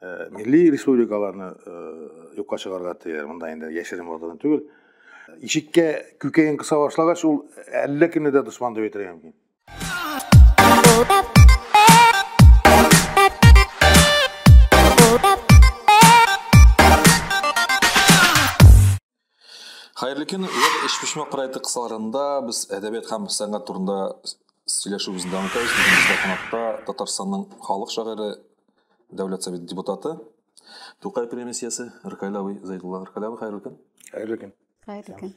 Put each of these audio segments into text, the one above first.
э, милли республикаларны э, юкка чыгарга тыя монда инде яшерен бардан түгел ишеккә күкәен кыса башлагач ул әллә кемне дә дошман дип әйтергә мөмкин Хәерле көн. Веб эчпочмак проекты кысаларында без әдәбият һәм сәнгать турында сөйләшүебезне дәвам итәбез. Бүген бездә кунакта Татарстанның халык шагыйре, дәүләт совет депутаты, Тукай премиясе Ркайлавый Зайдулла Ркайлавый. Хәерле көн. Хәерле көн. Хәерле көн.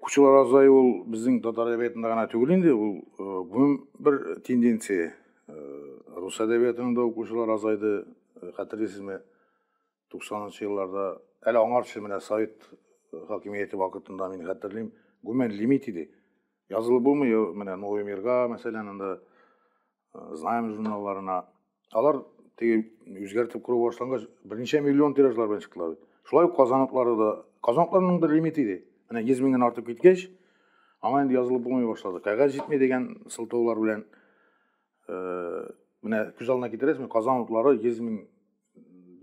Укучылар азаю ул безнең татар әдәбиятында гына түгел инде, ул гомум бер тенденция. Рус әдәбиятының да укучылар азайды, хәтерлисезме? 90-нчы елларда, әле аңарчы менә Совет хакимияте вакытында мин хәтерлим, гомумән лимит иде. Язылып булмый, менә Новый мирга, мәсәлән, анда знаем журналларына алар теге үзгәртеп күрү башлангач берничә миллион тиражлар белән чыктылар шулай ук казаныклары да казаныкларның бер лимиты иде менә йөз меңнән артып киткәч аңа инде язылып булмый башлады кәгазь җитми дигән сылтаулар белән э, менә күз алдына китерәсезме казан утлары йөз мең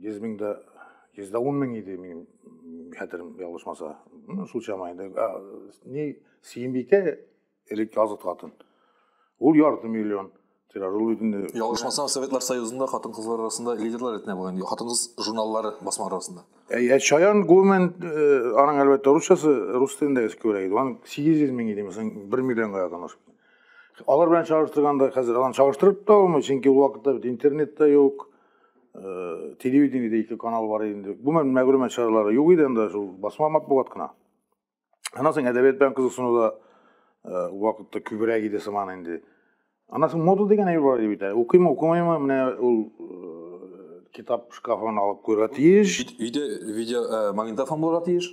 йөз мең дә йөз дә ун мең иде минем хәтерем ялгышмаса шул чама инде не сөембикә Элек языт хатын. Ул ярты миллион тираж ул бит инде. Ялгышмасам, Советлар Союзында хатын-кызлар арасында лидерлар ретенә булган хатын-кыз журналлары басма арасында. Әйе, Чаян гомумән э, аның әлбәттә русчасы рус телендә күбрәк иде. Аның 800 мең иде, мәсәлән, 1 миллионга якын ашып. Алар белән чагыштырганда хәзер аларны чагыштырып та алмый, чөнки ул вакытта бит интернет та юк. Э, телевидениедә ике канал бар иде. Гомумән мәгълүмат чаралары юк иде анда шул басма матбугат кына. Анан соң әдәбият белән кызыксыну да э, вакытта күбрәк иде сыман инде. Анан соң мода дигән әйбер бар бит. Укыймы, укымыймы, менә ул э, китап шкафын алып куярга тиеш. Өйдә видео э, магнитофон булырга тиеш.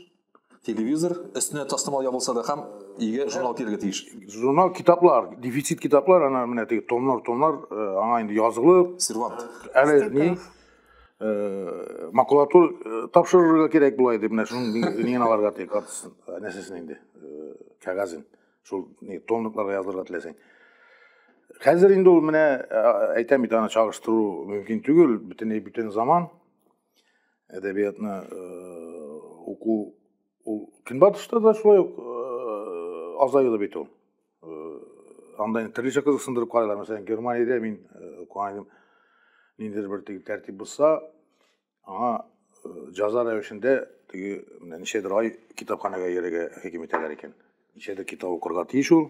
Телевизор өстенә тастымал ябылса да һәм өйгә журнал килергә тиеш. Журнал китаплар, дефицит китаплар, ана менә теге томнар, томнар аңа инде язылып. Сервант. Әле ни? э, макулатур э, тапшырырга кирәк була иде менә шуның нигән аларга тиек картасын нәрсәсен инде э, кәгазен шул ни томлыкларга язылырга теләсәң хәзер инде ул менә әйтәм бит аны чагыштыру мөмкин түгел бөтенләй бүтән заман әдәбиятны уку ул көнбатышта да шулай ук азаюлы бит ул анда төрлечә кызыксындырып карайлар мәсәлән германиядә мин укыган идем ниндидер бер теге тәртип бозса аңа җаза рәвешендә теге менә ничәдер ай китапханәгә йөрергә хөкем итәләр икән ничәдер китап укырга тиеш ул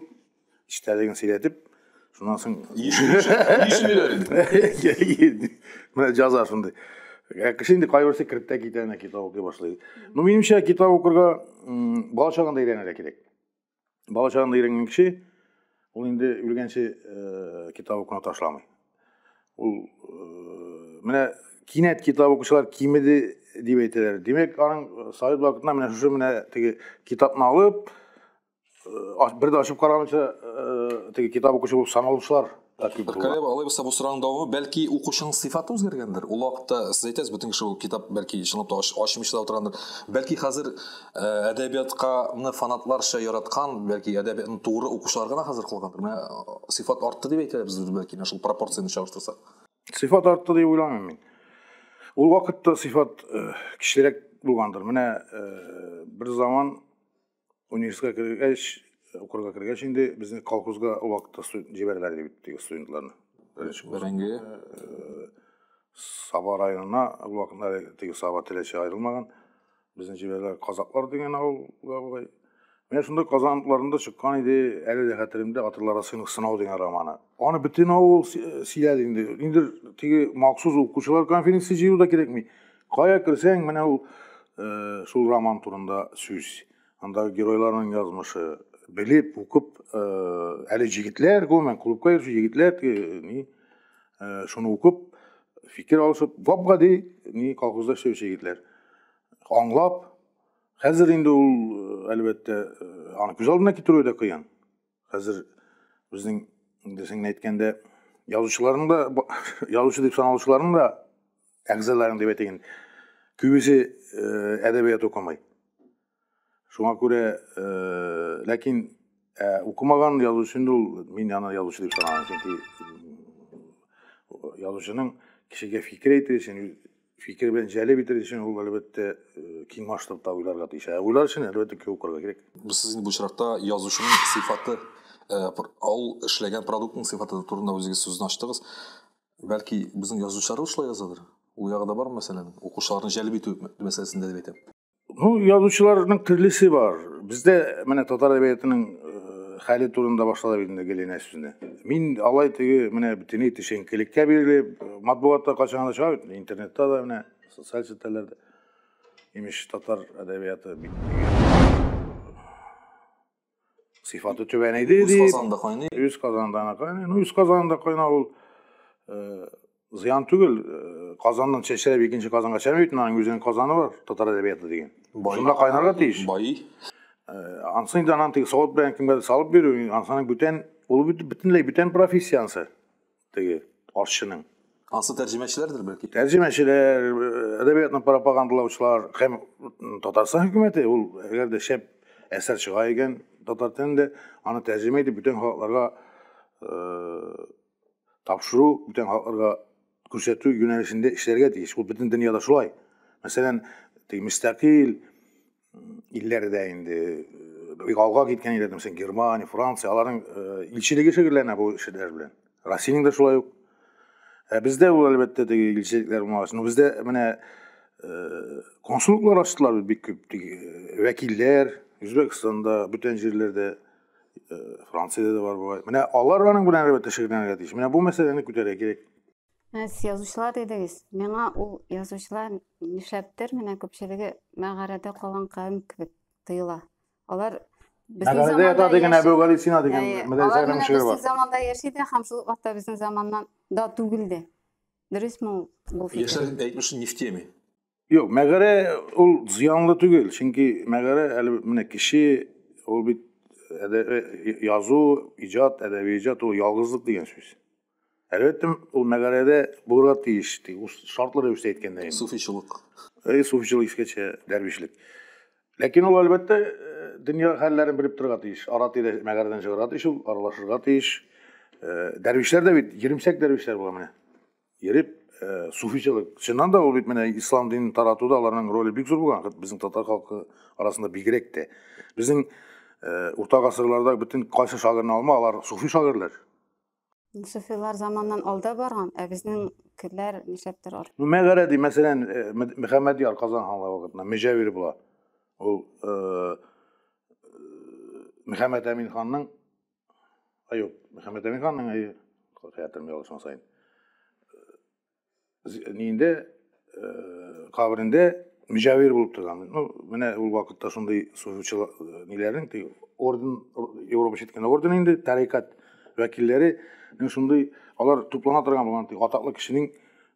эчтәлеген сөйләтеп шуннан соң менә җаза шундый кеше инде кайберсе кереп тә китә китап укый башлый ну минемчә китап укырга бала чагында өйрәнергә кирәк бала чагында өйрәнгән кеше ул инде үлгәнче э, китап укуны ташламый ул э, менә кинәт китап укучылар кимеде дип әйтәләр димәк аның э, совет вакытында менә шушы менә теге китапны алып бер дә ачып карамыйча теге китап укучы булып саналучылар Королева алай булса бу сораның дәвамы бәлки укучының сыйфаты үзгәргәндер. Ул вакытта сез әйтәсез бөтен кеше китап бәлки чынлап та ачмыйча да утыргандыр. Бәлки хәзер э, әдәбиятканы фанатларча яраткан, бәлки әдәбиятны тугры укучылар гына хәзер кылгандыр. Менә э, сыйфат артты дип әйтәләр без бәлки менә шул пропорцияне чагыштырсак. Сыйфат артты дип уйламыйм мин. Ул вакытта сыйфат э, кечерәк булгандыр. Менә бер заман Университетка кергәч, укырга кергәч инде безне колхозга ул вакытта җибәрделәр дип теге студентларны. Беренче Бәрәңге. Э, Саба районына ул вакытта теге Саба теләче аерылмаган. Безне җибәрделәр Казаклар дигән авылга бугай. Менә шунда Казан утларында чыккан иде, әле дә хәтеремдә Атылар сыйнык сынау дигән романы. Аны бөтен авыл сөйләде инде. Инде теге махсус укучылар конференция җыюда кирәкми. Кая керсәң, менә ул э, шул роман турында сүз. Андагы геройларның язмышы белеп, укып, э, әле җегетләр, гомумән, клубка йөрүче егетләр э, ни э, шуны укып, фикер алышып, гап-гади ни колхозда эшләүче егетләр аңлап, хәзер инде ул, әлбәттә, аны күз алдына китерүе дә кыен. Хәзер безнең инде сеңне әйткәндә язучыларның да язучы дип саналучыларның да әгъзаларын дип әйтәйен. Күбесе э, әдәбият укымый. Шуңа күрә, э, ләкин э, укымаган язучы инде ул мин яна язучы дип саналам, чөнки язучының кешегә фикер әйтү өчен фикер белән җәлеп итер өчен ул әлбәттә киң масштабта уйларга тиеш. Ә уйлар өчен әлбәттә кө укырга кирәк. Сез инде бу очракта язучының сыйфаты, ул эшләгән продуктның сыйфаты турында үзегез сүзне ачтыгыз. Бәлки безнең язучылар шулай язадыр? Ул ягы да бар мәсьәләнең? Укучыларны җәлеп итү мәсьәләсендә дип әйтәм. Ну, язучыларның төрлесе бар. Бездә менә татар әдәбиятының э, хәле турында башладык инде Геленә сүзне. Мин алай теге менә бөтенләй төшенкелеккә бирелеп, матбугатта кайчан гына чыга бит, интернетта да менә, социаль челтәрләрдә. Имеш татар әдәбияты бит Сыйфаты түбән иде Үз казанында кайный. Үз казанында кайный. Ну, үз казанында кайна ул э, зыян түгел. Э, казаннан чәчрәп икенче казанга чәмәй бит, аның үзенең казаны бар, татар әдәбияты дигән. Шунда кайнарга тиеш. Бай. Э, ансын да анан тиң савыт белән кимгә салып бирү, ансының бүтән ул бөтенләй бүтән профессия ансы. теге арчының. Ансы тәрҗемәчеләрдер бәлки. Тәрҗемәчеләр, әдәбиятны пропагандалаучылар һәм Татарстан хөкүмәте ул әгәр дә шәп әсәр чыга икән татар телендә, аны тәрҗемә итеп бүтән халыкларга э, тапшыру, бүтән халыкларга күрсәтү юнәлешендә эшләргә тиеш. Ул бөтен дөньяда шулай. Мәсәлән, теге мөстәкыйль, илләрдә инде бик алга киткән илләрдә мәсәлән германия франция аларның илчелеге шөгыльләнә бу эшләр белән россиянең дә шулай ук ә бездә ул әлбәттә теге илчелекләр булмагач но бездә менә консуллыклар ачтылар бик күп теге вәкилләр үзбәкстанда бүтән җирләрдә франциядә дә бар бугай менә алар аның белән әлбәттә шөгыльләнергә тиеш менә бу мәсьәләне күтәрергә кирәк Ә сез язучылар дидегез. Миңа ул язучылар нишләптер менә күпчелеге мәгарәдә калган кавем кебек тоела. Алар безнең Мәгарәдә заманда ята дигән яши- Әбүгалисина дигән Әйе, Мөдәррис алар Әкрәм менә шигыре бар. безнең заманда яши дә һәм шул ук вакытта безнең заманнан да түгел дә. Дөресме ул бу фикер? Яшьләр әйтмешли не в теме. Юк, мәгарә ул зыянлы түгел, чөнки мәгарә әле менә кеше ул бит язу, иҗат, әдәби иҗат ул ялгызлык дигән сүз. Әлбәттә, ул мәгарәдә булырга тиеш, ди, ул шартлы рәвештә әйткәндә инде. Суфичылык. Э, суфичылык искәчә дәрвишлек. Ләкин ул әлбәттә дөнья хәлләрен белеп торырга тиеш. Ара тирә мәгарәдән чыгарга тиеш, ул аралашырга тиеш. Дәрвишләр дә бит, җиремсәк дәрвишләр була менә. Ереп, э, суфичылык. Чыннан да ул бит менә ислам динен таратуда аларның роле бик зур булган, безнең татар халкы арасында бигрәк тә. Безнең э, урта гасырларда бөтен кайсы шагырны алма, алар суфи шагырлар. Суфилар заманнан алда барган, ә безнең керләр нишләптер ар. Ну, мәгәрә ди, мәсәлән, э, Мөхәммәд яр Казан ханлыгы вакытында Мөҗәвир була. Ул э, Мөхәммәд Әмин ханның Аюп Мөхәммәдәмин хан миңа хәятым ялгышмас сайын. Нинде кабрендә мөҗәвир булып торган. Ну, менә ул вакытта шундый суфичы ниләрнең ти орден Европа читкән орден инде тарикат вәкилләре шундый алар туплана торган булган ти атаклы кешенең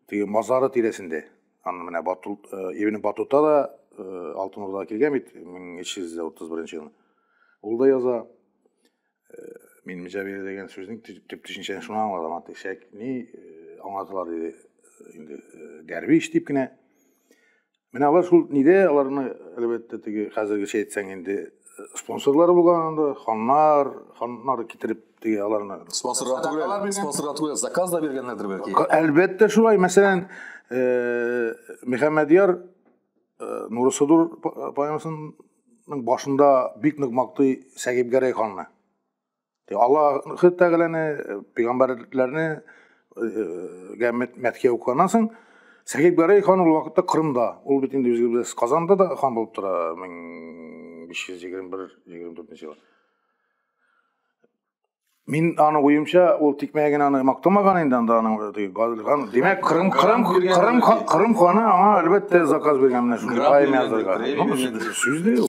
теге мазары тирәсендә. Аны менә Бату Ибн Батута да Алтын Урдага килгән бит 1331 елда. Ул да яза мин мөҗәбир дигән сүзнең төп төшенчәсен шуңа аңладым аты шәкни аңлаталар диде инде дәрвиш дип кенә менә алар шул нидә аларны әлбәттә теге хәзергечә әйтсәң инде спонсорлар булган анда ханнар ханнар китереп теге аларны спонсорлар түгел спонсорлар түгел заказ да биргәннәрдер бәлки әлбәттә шулай мәсәлән мөхәммәдьяр Э, Нурысыдур э, поэмасының башында бик нык мактый Сәгиб Гәрәй ханны. Аллаһ Тәгаләне, э, пәйгамбәрләрне гә мәткә укыганнан соң Сәгиб Гәрәй хан ул вакытта Кырымда, ул бит инде үзебез Казанда да хан булып тора 1521-24 елда. Мин аны уемча, ул тикмәгә генә аны мактамаган инде анда аның гадилган. Димәк, Кырым Кырым Кырым Кырым ханы аңа әлбәттә заказ биргән менә шундый поэма язарга. Сүз дә юк.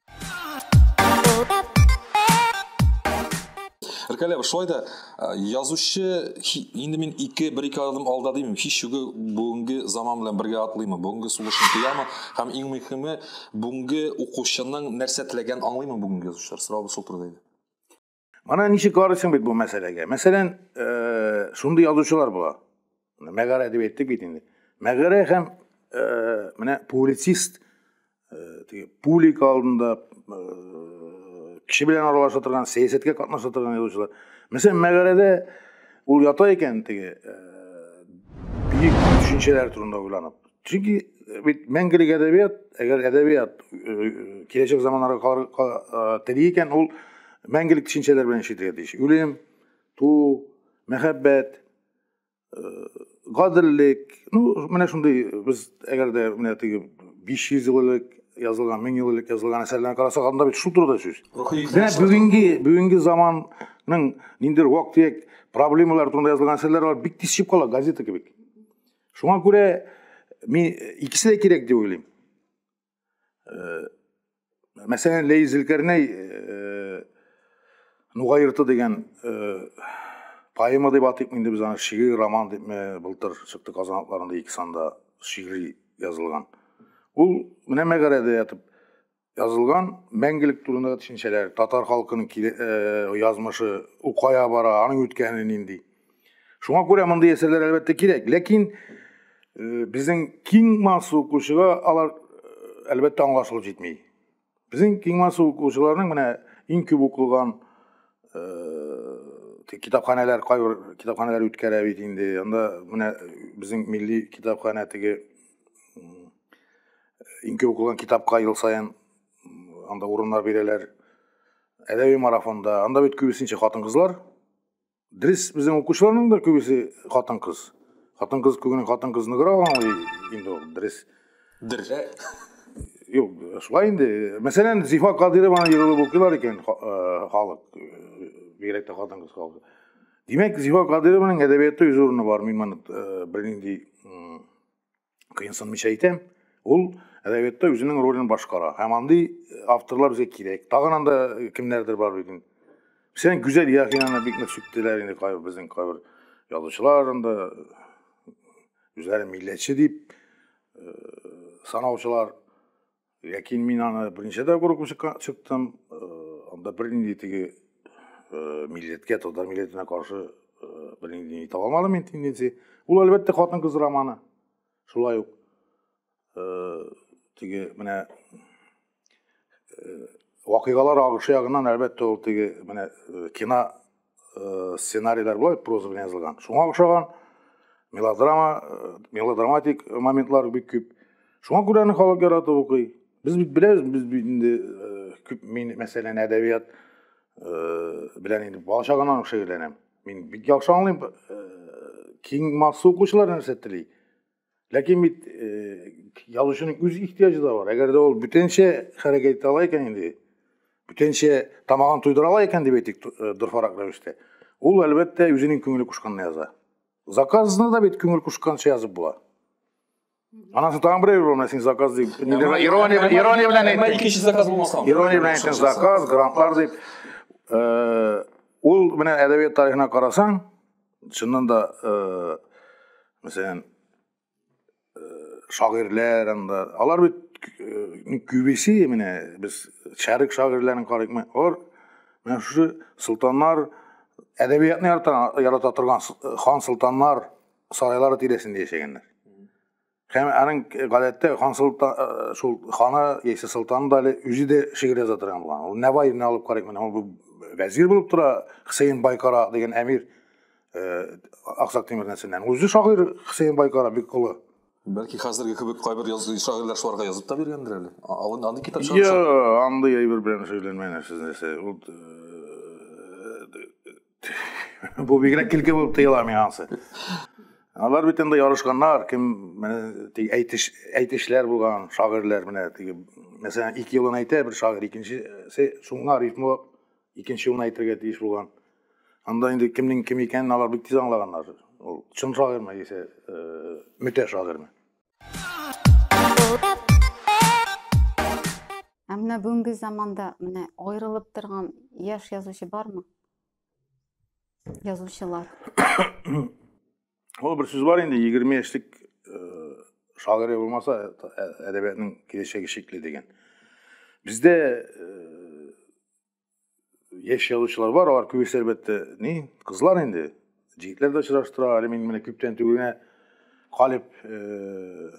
Ркалева, шулай да язучы инде мин ике бер ике адым алда димим. Һич югы бүгенге заман белән бергә атлыймы, бүгенге сулышын тоямы һәм иң мөһиме бүгенге укучының нәрсә теләгән аңлыймы бүгенге язучылар? Сорау шул турыда иде. Мана ничек карыйсың бит бу мәсьәләгә. Мәсәлән, э, шундый язучылар була. Мәгарә дип әйттек бит инде. Мәгарә һәм э, менә публицист э, теге публик алдында кеше белән аралаша торган, сәясәткә катнаша торган язучылар. Мәсәлән, мәгарәдә ул ята икән теге бөек төшенчәләр турында уйланып. Чөнки э, бит мәңгелек әдәбият, әгәр әдәбият э, киләчәк заманнарга калырга тели икән, ул мәңгелек төшенчәләр белән эшләргә тиеш. Үлем, туу, мәхәббәт, гаделлек, ну, менә шундый без әгәр дә менә теге 500 ел элек язылган, 1000 ел элек язылган әсәрләрне карасак, анда бит шул турыда сүз. Менә бүгенге бүгенге заманның ниндидер вак-төяк проблемалар турында язылган әсәрләр бар, бик тиз чыгып кала газета кебек. Шуңа күрә мин икесе дә кирәк дип уйлыйм. Э, мәсәлән, Ләй Зелкәрнәй э, Нуга йорты дигән э, поэма дип атыйк инде без аны шигырь роман дип былтыр чыкты Казан атларында ике санда шигырь язылган. Ул менә мәгарәдә ятып язылган мәңгелек турындагы төшенчәләр татар халкының киле, ә, э, язмышы укая бара аның үткәне нинди шуңа күрә мондый әсәрләр әлбәттә кирәк ләкин э, безнең киң масса укучыга алар э, әлбәттә аңлашылып җитми безнең киң масса укучыларның менә иң күп укылган китапханәләр кайбер китапханәләр үткәрә бит инде анда менә безнең милли китапханә теге Инке укылган китапка ел саен анда урыннар бирәләр. Әдәби марафонда, анда бит күбесенчә хатын-кызлар. Дрис безнең укучыларның да күбесе хатын-кыз. Хатын-кыз күгенең хатын-кыз ныгыра аңлый инде ул дрис. Дер. Юк, шулай инде. Мәсәлән, Зифа Кадырованы егылып укыйлар икән халык, бигрәк тә хатын-кыз халкы. Димәк, Зифа Кадырованың әдәбияты үз урыны бар, мин моны бернинди кыенсынмыйча әйтәм, ул әдәбиятта үзенең ролен башкара. Һәм андый э, авторлар безгә кирәк. Тагын анда э, кемнәрдер бар бит инде. Сен Гүзәл Яхинаны бик нык сүктеләр инде кайбер безнең кайбер язучылар анда үзләрен милләтче дип э, санаучылар Ләкин мин аны беренче тапкыр укып чыктым. Анда бернинди теге милләткә, татар милләтенә каршы бернинди итә алмадым мин тенденция. Ул әлбәттә хатын-кыз романы. Шулай ук теге менә вакыйгалар агышы ягыннан әлбәттә ул теге менә кино э, сценарийлар былай проза белән язылган шуңа охшаган мелодрама э, мелодраматик моментлар бик күп шуңа күрә аны халык яратып укый без бит беләбез без бит инде э, күп мин мәсәлән әдәбият белән инде бала чагымнан ук шөгыльләнәм мин бик яхшы аңлыйм киң масса укучылар нәрсә тели Ләкин бит э, язучының үз ихтиҗы да бар. Әгәр дә ул бүтәнчә хәрәкәт итә ала икән инде, бүтәнчә тамагын туйдыра ала икән дип әйтик э, дөрфарак рәвештә, ул әлбәттә үзенең күңеле кушканны яза. Заказны да бит күңел кушканча язып була. Анасы тагын берәү булмас, син заказ дип. Ирония, ирония белән әйтә. Икенче заказ булмаса. Ирония белән әйтә заказ, грантлар дип. Э, ул менә әдәбият тарихына карасаң, Чыннан да, э, мәсәлән, э, шагыйрьләр анда, алар бит э, күбесе менә без шәрык шагыйрьләрен карыйкмы, алар менә шушы солтаннар әдәбиятны ярата, ярата торган хан солтаннар сарайлары тирәсендә яшәгәннәр. Һәм аның гадәттә хан солтан э, шул ханы яисә солтаны да әле үзе дә шигырь яза торган булган. Ул Нәваевны алып карыйк менә ул вәзир булып тора Хсейн Байкара дигән әмир э, Аксак Тимир нәселеннән. Үзе шагыйрь Хсейн Байкара бик олы. Бәлки хәзерге кебек кайбер язучы шагыйрьләр шуларга язып та биргәндер әле. Алын аны китап чыгарып. Йо, андый әйбер белән шөгыльләнмәгән сез нәрсә. Ул э, Бу бигрәк килке булып тоела миңа ансы. Алар бит инде ярышканнар, кем менә тик әйтеш әйтешләр булган шагыйрьләр менә тик мәсәлән 2 елын әйтә бер шагыйрь, икенчесе шуңа рифмы икенче елын әйтергә тиеш булган. Анда инде кемнең кем икәнен алар бик тиз аңлаганнар. Ул чын шагыйрьме яисә э, мөтә шагыйрьме? Ә менә бүгенге заманда менә аерылып торган яшь язучы бармы? Язучылар. Ул бер сүз бар инде 20 яшьлек шагыйрь булмаса әдәбиятның киләчәге шикле дигән. Бездә яшь язучылар бар, алар күбесе әлбәттә ни, кызлар инде. Җегетләр дә очраштыра, әле мин менә күптән түгел генә Калиб э,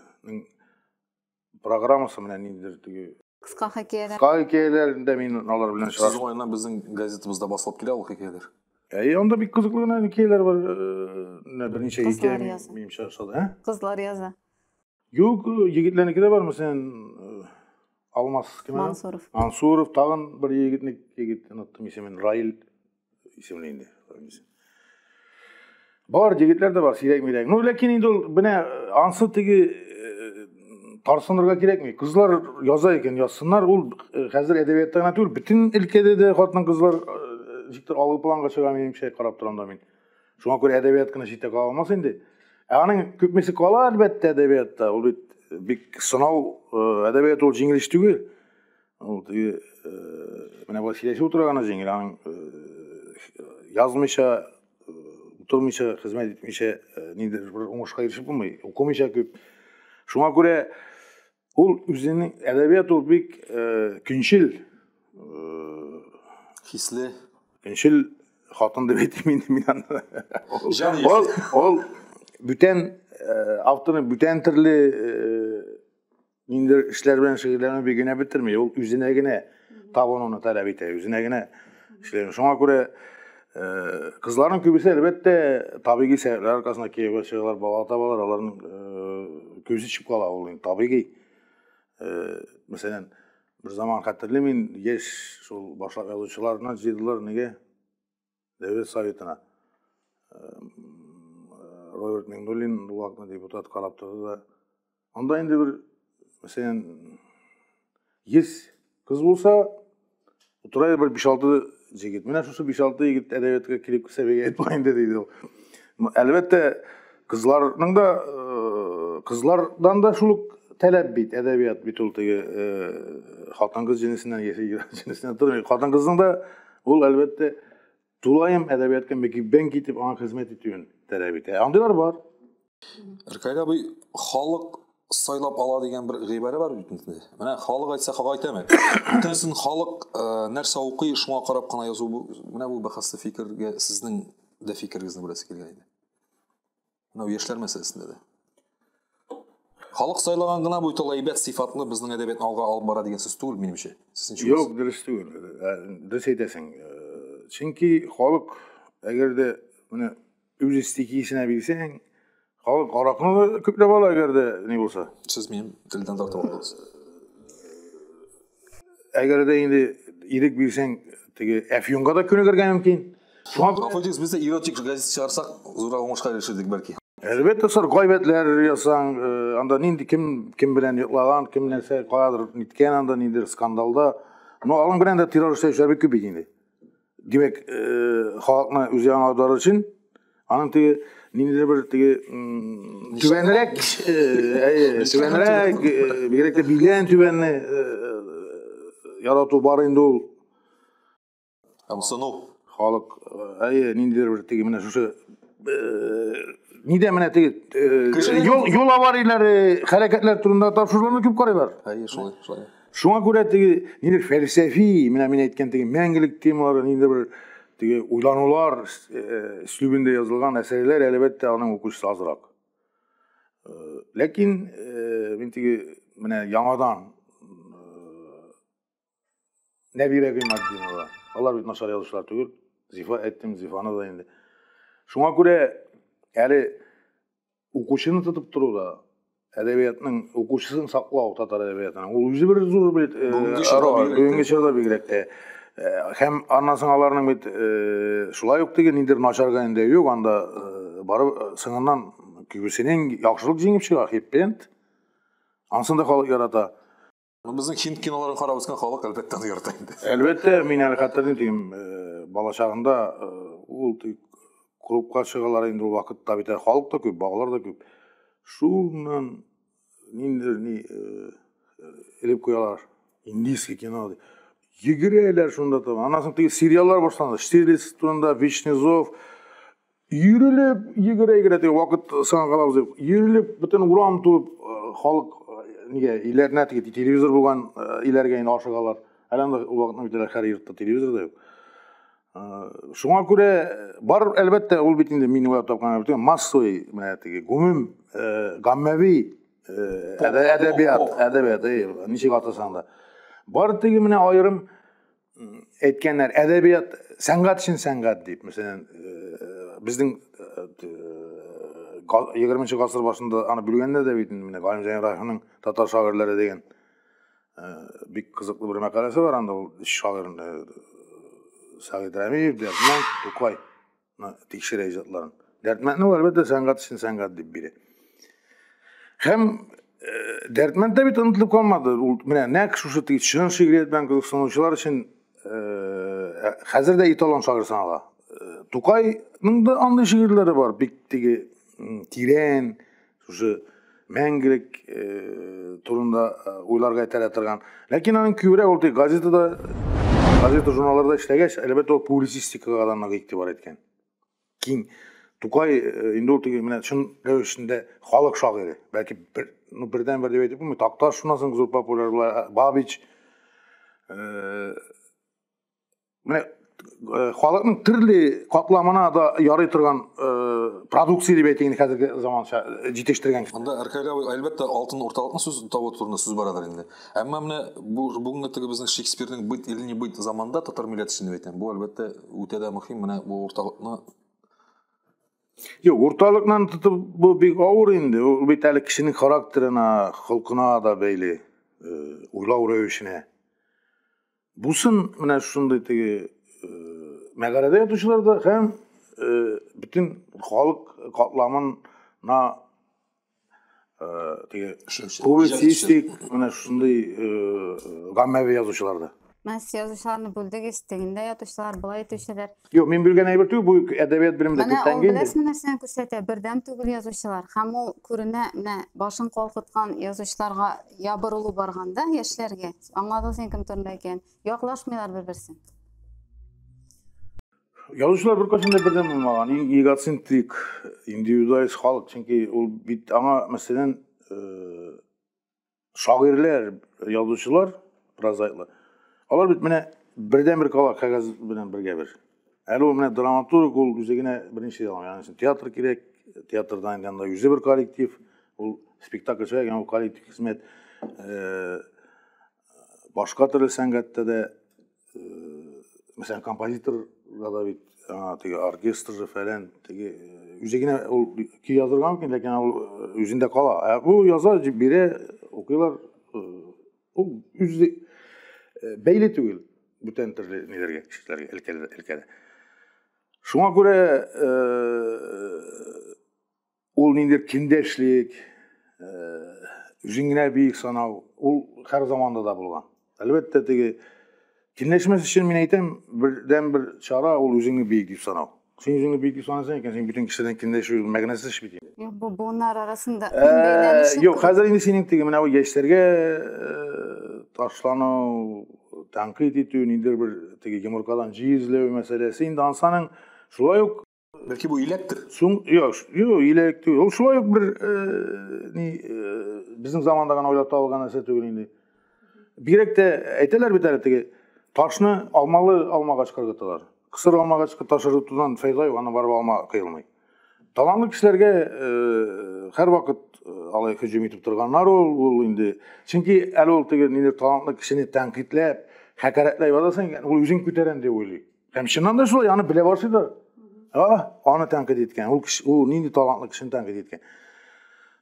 программасы менә ниндидер теге кыска хикәяләр. Кыска хикәяләрендә мин алар белән очраштым. Сезнең уеннан безнең газетабызда басылып килә ул хикәяләр. Әй, анда бик кызыклы гына хикәяләр бар. Э, менә берничә хикәя минем чыгышлады, ә? Кызлар яза. Юк, егетләрнеке дә бар, мәсәлән, э, Алмас кем әле? Мансуров. Мансуров тагын бер егетне егет оныттым исемен, Раил исемле инде. Бар егетләр дә бар, сирәк-мирәк. Ну, ләкин инде ул менә э, ансы теге э, тарсынырга кирәкми. Кызлар яза икән, язсыннар. Ул э, хәзер әдәбиятта гына түгел, бөтен өлкәдә дә хатын-кызлар э, никтер алгы планга чыга, минемчә, карап торам да мин. Шуңа күрә әдәбият кына читтә кала алмас инде. Ә аның күпмесе кала, әлбәттә, әдәбиятта. Ул бит э, бик сынау, э, әдәбият ул җиңел эш түгел. Ул теге э, менә болай сөйләшеп утыра гына җиңел, аның язмыйча, утырмыйча, хезмәт итмичә ниндидер бер уңышка ирешеп булмый. Укымыйча күп. Шуңа күрә Ул үзенең әдәбият ул бик э, көнчел э, хисле көнчел хатын дип әйтим инде мин аны. Ул ул бүтән э, авторның бүтән төрле э, ниндидер эшләр белән шөгыльләнү бик генә бетерми. Ул үзенә генә э, Табын оны таләп итә, үзенә генә эшләгән. Шуңа күрә кызларның күбесе, әлбәттә, табигый сәбәпләр аркасында кияүгә чыгалар, бала табалар, аларның күзе төшеп кала ул инде табигый. Мәсәлән, бер заман хәтерлим мин, яшь шул башлап язучыларны җыйдылар, нигә? Дәүләт Советына Роберт Миңнуллин вакытны депутат карап торды да. Анда инде бер, мәсәлән, 100 кыз булса, утыра бер 5-6 җегет. Менә шушы 5-6 егет әдәбиятка килеп кисә бергә әйтмә инде диде ул. Әлбәттә, кызларның да э, кызлардан да шул ук таләп бит, әдәбият бит ул теге э, хатын-кыз җенесеннән яши, җенесеннән тормый. Хатын-кызның да Ул әлбәттә тулаем әдәбиятка мөкиббән китеп аңа хезмәт итүен таләп итә. Ә андыйлар бар. Ркайда бу халык сайлап ала дигән бер гыйбарә бар бит инде. Менә халык әйтсә хак әйтәме? Бүтәнсен халык э, нәрсә укый, шуңа карап кына язу бу. Менә бу бәхәсле фикергә сезнең дә фикерегезне беләсе килгән иде. Мынау яшьләр мәсьәләсендә дә. Халык сайлаган гына бу тол әйбәт сыйфатлы безнең әдәбиятны алга алып бара дигән сүз түгел минемчә. Сезнеңчә? Юк, дөрес түгел. Ә, Дөрес әйтәсең. Э, Чөнки халык әгәр дә менә үз стихиясенә бирсәң, халык аракны да күпләп ала әгәр дә ни булса. Сез минем телдән тартып алдыгыз. Әгәр дә инде ирек бирсәң, теге Әфьюнга да күнегергә мөмкин. Шуңа күрә Фотикс бездә эротик газет чыгарсак, зур уңышка ирешердек бәлки. Әлбәттә, сор гайбәтләр ясаң, э, анда нинди кем кем белән йоклаган, кем нәрсә каядыр ниткән анда, ниндидер скандалда. Но алың белән дә террор эшләүчеләр бик күп бит инде. Димәк, халыкны үзе аңлатар өчен аның теге ниндидер бер теге түбәнрәк, түбәнрәк, бигрәк тә билгелән түбәнне ярату бар инде ул. Ымсыну. Халык, әйе, ниндидер бер теге менә шушы нидә менә теге юл аварияләре, хәрәкәтләр турында тапшыруларны күп карыйлар. Әйе, шулай, шулай. Шуңа күрә теге нидер фәлсәфи, менә мин әйткән теге мәңгелек темалары нидер бер теге уйланулар өслүбендә э, язылган әсәрләр әлбәттә аның укучысы азрак. Э, ләкин э, мин теге менә яңадан Нәбирә Гыйматдинова, алар бит начар язучылар түгел. Зифа әйттем, Зифаны да инде. Шуңа күрә әле Укучыны тотып тору да әдәбиятның укучысын саклау татар әдәбиятының ул үзе бер зур бит э, бүгенге чорда бигрәк тә э, һәм аннан соң аларның бит э, шулай ук теге нидер начар гәндә юк анда барып соңыннан күбесенең яхшылык җиңеп чыга хеппент ансын да халык ярата Безнең хинд киноларын карап үскән халык әлбәттә аны ярата инде. Әлбәттә, мин әле хәтерлим дим, э, балачагында э, ул клубка чыгалар инде ул вакытта бит халык та күп, балалар да күп. Шуннан ниндер ни э, элеп куялар. Индийский кино ди. Йөгерәләр шунда там. Аннан соң теге сериаллар башланды. Штирлиц турында, Вишнезов, Йөрелеп, йөгерә-йөгерә теге вакыт саң калабыз дип, йөрелеп, бөтен урам тулып, халык нигә иләренә теге телевизор булган иләргә инде ашыгалар. Әле анда ул вакытны бит һәр йортта телевизор да юк. Шуңа күрә бар, әлбәттә, ул бит инде мин уйлап тапкан бит, массовый, менә теге гомум гаммәви әдәбият, әдәбият, ничек атасаң да. Бар теге менә аерым әйткәннәр әдәбият сәнгать өчен сәнгать дип мәсәлән э, безнең э, э, егерменче гасыр башында аны бүлгәннәр дә бит инде менә галимҗан ибраһимның татар шагыйрьләре дигән бик кызыклы бер мәкаләсе бар анда ул өч шагыйрьне сәгыйть рәмиев дәрдмәнд тукай тикшерә иҗатларын. Дәрдмәндне ул әлбәттә сәнгать өчен сәнгать дип бирә. Һәм э, Дәрдмәнд дә бит онытылып калмады. Ул менә нәкъ шушы тик чын шигърият белән кызыксынучылар өчен э, э, хәзер дә эталон шагыйрь санала. Тукайның да андый шигырьләре бар, бик теге тирән, Шушы мәңгелек э, турында э, уйларга этәрә торган. Ләкин аның күбрәк ул газетада, газета журналларда эшләгәч, әлбәттә ул публицистикага да нык игътибар иткән. Киң Тукай э, инде ул теге менә чын рәвешендә халык шагыйре. Бәлки бер ну бердән бер дип әйтеп булмый. Такташ шуннан соң зур популяр була. Бабич Менә э, халыкның төрле катламына да ярый торган э, продукция дип әйтик инде хәзерге заманча э, җитештергән. Монда Аркадий абый әлбәттә алтын урталыкны сүз табу турында сүз барадыр инде. Әмма менә бу бүгенге теге безнең Шекспирның бит или не бит заманда татар милләте өчен дип әйтәм. Бу әлбәттә үтә дә мөһим менә бу урталыкны Юк, урталыкны тотып бу бик авыр инде. Ул бит әле кешенең характерына, холкына да бәйле, уйлау рәвешенә. Бусын менә шундый теге э, мәгарәдә ятучылар да һәм э, бөтен халык катламына э, теге публицистик менә шундый гаммәви язучылар да. Мәс язучыларны бүлдегез, тегендә ятучылар, болай итүчеләр. Юк, мин белгән әйбер түгел, бу әдәбият белемендә Менә күптән ул инде. беләсме нәрсәне күрсәтә? Бердәм түгел язучылар. Һәм ул күренә, менә башын калкыткан язучыларга ябырылу барганда яшьләргә. Аңладың син кем турында икән? Яклашмыйлар бер-берсен. Язучылар беркайчан да бердәм булмаган. Иң эгоцентрик, индивидуалист халык, чөнки ул бит аңа мәсәлән, э, шагыйрьләр, язучылар, прозаиклар. Алар бит менә бердән бер кала кәгазь белән бергә бер. Әле ул менә драматург ул үзе генә беренче яламый. Янәсе театр кирәк, театрдан янда үзе бер коллектив, ул спектакль чыгар, янда коллектив хезмәт. Э, башка төрле сәнгатьтә дә мәсәлән композитор да бит аңа теге оркестр же фәлән теге үзе генә ул көй язырга мөмкин ләкин ул үзендә кала ә бу яза дип бирә укыйлар ул үзе бәйле түгел бүтән төрле ниләргә кешеләргә өлкәдә өлкәдә шуңа күрә Ул нинди киндәшлек, үзең генә биек санау, ул һәр заманда да булган. Әлбәттә, теге киндәшмәс өчен мин әйтәм, бердән бер чара ул үзеңне биек дип санау. Син үзеңне биек дип санасаң икән, син бөтен кешедән киндәшү мәгънәсез бит инде. Юк, бу буыннар арасында бәйләнеше. Юк, хәзер инде синең теге менә бу яшьләргә ташлану, тәнкыйть итү, ниндидер бер теге йомыркадан җиз эзләү мәсьәләсе инде ансаның шулай ук Бәлки бу иләктер? Соң, я, юк, иләк түгел. Ул шулай ук бер э, ни э, безнең заманда гына уйлап табылган нәрсә түгел инде. Бигрәк тә әйтәләр бит әле теге ташны алмалы алмагачка ыргыталар. Кысыр алмагачка таш ыргытудан файда юк, аны барып алма кыйлмый. Талантлы кешеләргә э, һәрвакыт э, алай һөҗүм итеп торганнар ул, ул инде. Чөнки әле ул теге ниләр талантлы кешене тәнкыйтьләп, хәкәрәтләй барасың, ул үзен күтәрәм дип уйлый. Һәм чыннан да шулай, аны белә башлыйлар. А, аны тәнкыйть иткән. Ул кеше, ул нинди талантлы кешене тәнкыйть иткән.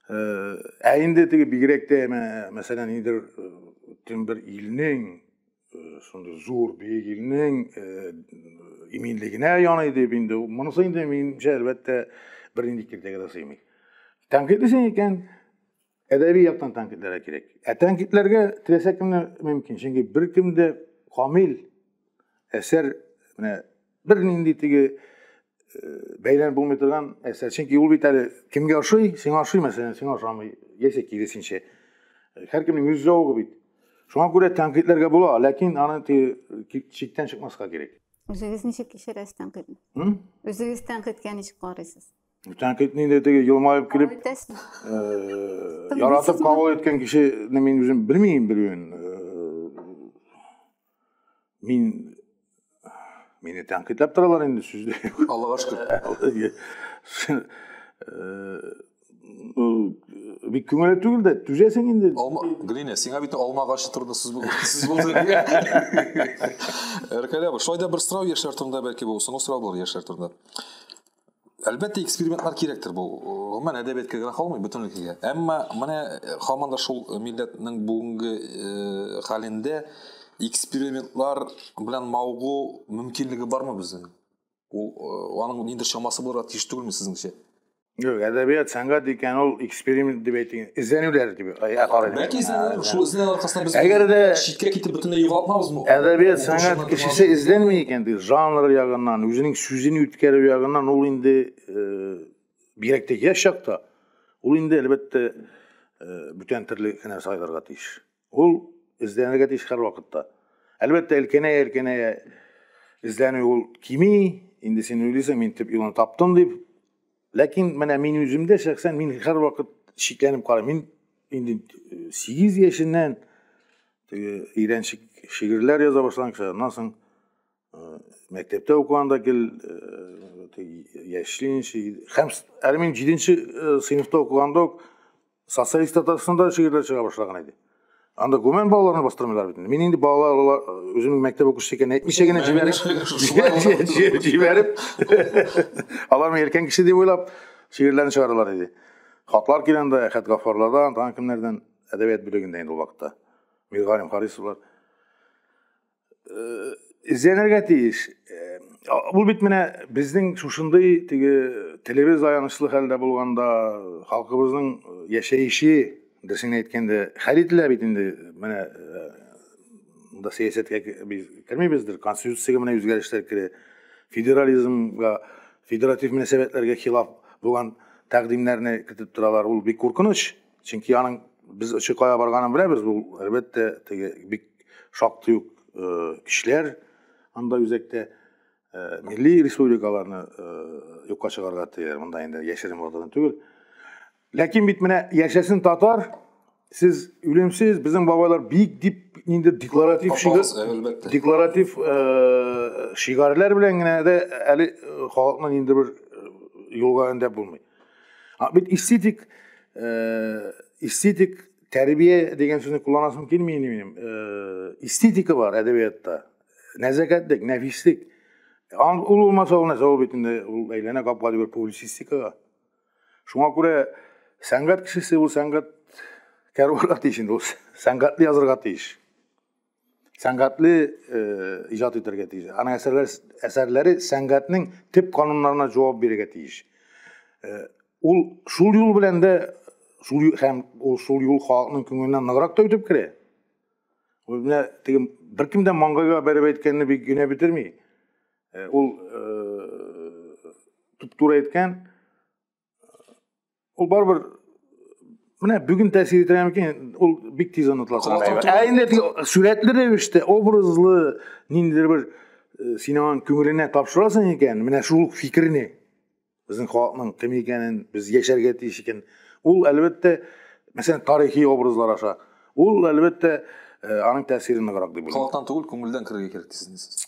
Э, ә инде теге бигрәк тә, мәсәлән, нидер э, тем бер илнең э, шундый зур бөек илнең иминлегенә яный дип инде монысы инде минемчә әлбәттә бернинди киртәгә дә сыймый. Тәнкыйть икән, әдәби яктан тәнкыйтьләргә кирәк. Ә тәнкыйтьләргә теләсә кемне мөмкин, чөнки беркем дә камил әсәр менә бернинди теге э, бәйләнеп булмый торган әсәр. Чөнки ул бит әле кемгә ошый, сиңа ошый, мәсәлән, сиңа ошамый, яисә киресенчә. Э, һәркемнең үз зәвыгы бит. Шуңа күрә тәнкыйтьләргә була, ләкин аны теге чиктән чыкмаска кирәк. Үзегез ничек кичерәсез тәнкыйтьне? Үзегез тәнкыйтькә ничек карыйсыз? Тәнкыйть нинди теге елмаеп килеп, э, яратып кабул иткән кешене мин үзем белмим белүен. Э, мин мине тәнкыйтьләп торалар инде сүздә. Аллага шөкер. Э, бик күңелле түгел дә түзәсең инде алма глиня сиңа бит алма агачы турында сүз булды сүз булды рәкәлә шулай да бер сорау яшьләр турында бәлки бу соңгы сорау булыр яшьләр турында Әлбәттә, экспериментлар кирәктер бу. Гомумән әдәбиятка генә калмый, бөтенлеккә. Әмма менә э, һаман да шул милләтнең бүгенге э, хәлендә экспериментлар белән мавыгу мөмкинлеге бармы безнең? Ул э, аның нинди чамасы булырга тиеш түгелме сезнеңчә? Юк, әдәбият, сәнгать икән ул эксперимент дип әйтик эзләнүләр дип карыйм бәлки эзләнүләр шул эзләнү аркасында без әгәр дә читкә китеп бөтенләй югалтмабыз бу әдәбият сәнгать кешесе эзләнми икән ди жанр ягыннан үзенең сүзен үткәрү ягыннан ул инде бигрәк тә яшь чакта ул инде әлбәттә бүтән төрле кенә сайларга тиеш ул эзләнергә тиеш һәрвакытта әлбәттә өлкәнәя өлкәнәя эзләнү ул кими инде син уйлыйсың мин төп юлны таптым дип Ләкин менә мин үземдә шәхсән мин һәрвакыт шикләнеп карыйм. Мин инде 8 э, яшеннән теге өйрәнчек шигырьләр яза башлаган кеше. Аннан соң э, мәктәптә укыганда гел э, яшьли ничә һәм әле мин 7 сыйныфта укыганда ук Социалист Татарстанда шигырьләр чыга башлаган иде. Анда гүмән балаларны бастырмыйлар бит. Мин инде балалар үземнең мәктәп укучысы икәнен әйтмичә генә җибәреп, җибәреп, алар мин өлкән кеше дип уйлап, шигырьләрне чыгаралар иде. Хатлар килә анда Әхәт Гафарлардан, тагын кемнәрдән әдәбият бүлегендә инде ул вакытта. Миргалим Харисовлар. эзләнергә тиеш. Ул бит менә безнең шушындый теге телебез аянычлы хәлдә булганда халкыбызның яшәеше дөресен әйткәндә хәл ителә бит инде менә монда сәясәткә без кермибездер конституциягә менә үзгәрешләр керә федерализмга федератив мөнәсәбәтләргә хилаф булган тәкъдимнәрне кертеп торалар ул бик куркыныч Чөнки аның без очы кая барганын беләбез, ул әлбәттә теге бик шактый ук э, көчләр анда үзәктә э, милли республикаларны э, юкка чыгарга тияр. Монда инде яшерен булган түгел. Ләкин бит менә яшәсен татар, сез үлемсез, безнең бабайлар бик дип инде декларатив шигар, декларатив шигарләр белән генә дә әле халыкны инде бер юлга өндәп булмый. А бит эстетик э, эстетик тәрбия дигән сүзне кулланасым килми инде минем. Э, эстетика бар әдәбиятта. Нәзәкәтлек, нәфислек. Ул булмаса ул нәрсә ул бит инде ул әйләнә капка дигән публицистикага. Шуңа күрә сәнгать кешесе ул сәнгать кәрванга тиеш инде ул сәнгатьле язырга тиеш. сәнгатьле иҗат итәргә тиеш. Аның әсәрләре әсәрләре сәнгатьнең төп кануннарына җавап бирергә тиеш. Ул шул юл белән дә шул һәм ул шул юл халыкның күңеленә ныграк та үтеп керә. Ул менә теге беркем дә маңгайга бәреп әйткәнне бик генә бетерми. Ул туп-туры әйткән, ул барыбер менә бүген тәэсир итә микән ул бик тиз онытыла ә инде теге сурәтле рәвештә образлы ниндидер бер э, син аңа күңеленә тапшырасың икән менә шул фикерне безнең халыкның кем икәнен без яшәргә тиеш икән ул әлбәттә мәсәлән тарихи образлар аша ул әлбәттә э, аның тәэсире ныграк дип уйлыйм халыктан түгел күңелдән керергә кирәк дисез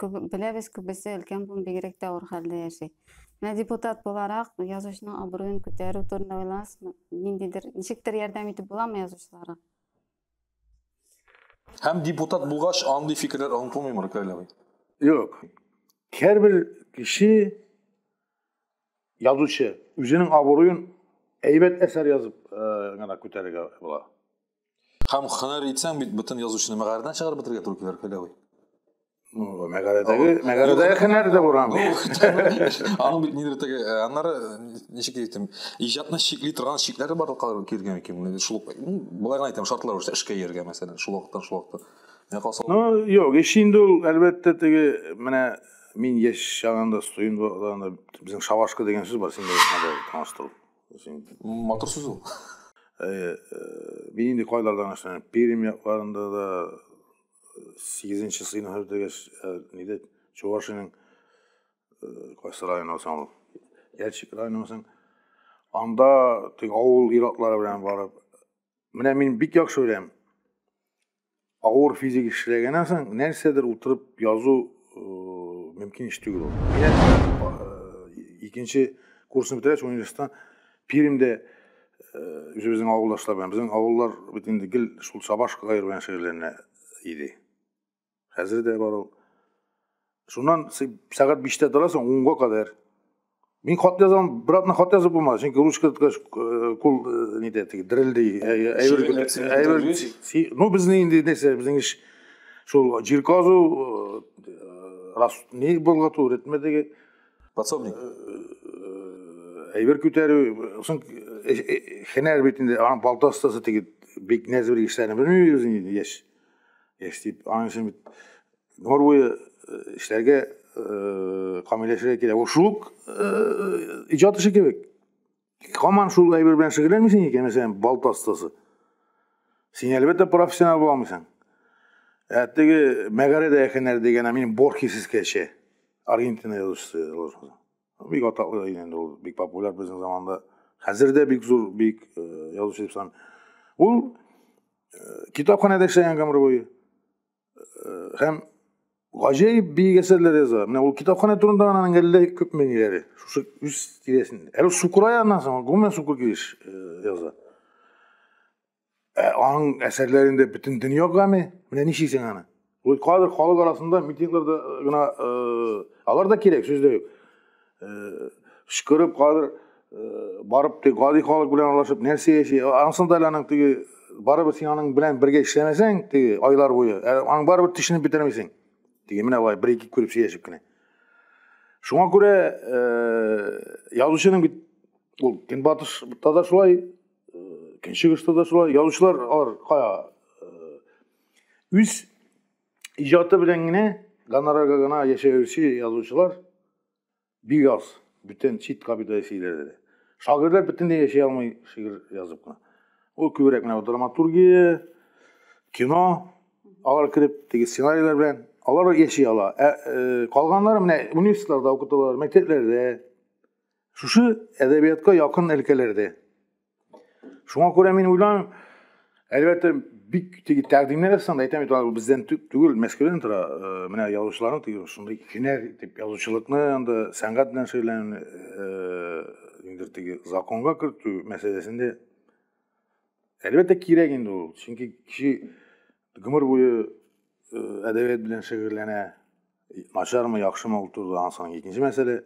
Беләбез, күбесе өлкән буын бигрәк тә авыр хәлдә яши. Менә депутат буларак язучының абруен күтәрү турында уйлансызмы? Ниндидер, ничектер ярдәм итеп буламы язучыларга? Һәм депутат булгач, андый фикерләр онытылмыймы, Рукәлә абый? Юк. Һәрбер кеше язучы үзенең абруен әйбәт әсәр язып гына күтәрергә була. Һәм хәнәр итсәң бит бөтен язучыны мәгарәдән чыгарып бетерергә туры килер Хәләви. Ну, мәгарәдәге, мәгарәдәге хәнәр дә буран. Аның бит нидер теге, э, аннары ничек әйтим, иҗатны чикли торган чикләре бар килгән икән. Шул болай гына әйтәм, шартлар үрчә эшкә йөргә мәсәлән, шул вакыттан шул вакытка. Менә калса. Ну, юк, эш инде ул әлбәттә теге менә мин яшь чагында студент вакытында безнең шавашка дигән сүз бар, син дә таныштырып. матур сүз ул э, э, мин инде кайлардан эшләнәм пермь якларында да сигезенче сыйныф бетергәч нидә чувашиянең кайсы районы соң ул ящик районы соң анда теге авыл ир-атлары белән барып менә мин бик яхшы беләм Авыр физик эшләгәннән соң нәрсәдер утырып язу мөмкин эш түгел ул. Икенче курсны бетерәч университеттан Пермьдә үзебезнең авылдашлар белән безнең авыллар бит инде гел шул сабаш кайыр белән шөгыльләнә иде. Хәзер дә бар ул. Шуннан сәгать биштә торасың, унга кадәр. Мин хат язам, братны хат язып булмады, чөнки ручка тоткач э, кул э, нидә теге дерелди. Э, ну безнең инде нәрсә, безнең эш шул җир казу, рас ни болгату, ритмәдәге подсобник. Әйбер күтәрү, соң хәнәр бит инде, аның балта остасы теге бик нәзбер эшләрне белмибез инде яшь. Яшь дип, аның өчен бит гомер буе эшләргә камилләшергә кирәк ул шул ук иҗат эше кебек һаман шул әйбер белән шөгыльләнмисең икән мәсәлән балта остасы син әлбәттә профессионал була алмыйсың ә теге мәгарәдә яхенәр дигән мин борхесискәчә аргентина язучысы бик атаклы инде ул бик популяр безнең заманда хәзер дә бик зур бик язучы дип саныйм ул китапханәдә эшләгән гомер буе һәм гаҗәеп биек әсәрләр яза. Менә ул китапханә турында аның әллә күп мәңгеләре. Шушы үз тирәсендә. Әле Сукурай аннан соң гомумән Сукур килеш яза. Ә аның әсәрләрендә бөтен дөнья гаме. Менә ничек син аны? Ул кадр халык арасында митингларда гына алар да кирәк сүз дә юк. кычкырып хәзер барып теге гади халык белән аралашып нәрсә яши ансын да әле аның теге барыбер син аның белән бергә эшләмәсәң теге айлар буе аның барыбер төшенеп бетермисең теге менә болай бер ике күреп сөйләшеп кенә шуңа күрә язучының бит ул көнбатышта да шулай көнчыгышта да шулай язучылар алар кая үз иҗаты белән генә гонорарга гына яшәүче язучылар бик аз, бөтен чит капитал силәре. Шагыйрьләр бөтенләй яши алмый шигырь язып кына. Ул күбрәк менә драматургия, кино алар кереп теге сценарийлар белән алар яши ала. Ә, э, калганнары менә университетларда укыталар, мәктәпләрдә. Шушы әдәбиятка якын өлкәләрдә. Шуңа күрә мин уйланым, әлбәттә, бик теге тәкъдимнәр ясаган да әйтәм бит алар бездән түгел мәскәүдән тора э, менә язучыларның теге шундый һөнәр итеп язучылыкны анда сәнгать белән шөгыльләнү э, ниндидер теге законга кертү мәсьәләсендә әлбәттә кирәк инде ул чөнки кеше гомер буе э, әдәбият белән шөгыльләнә Начармы, яхшымы ул турыда ансаң икенче мәсьәлә.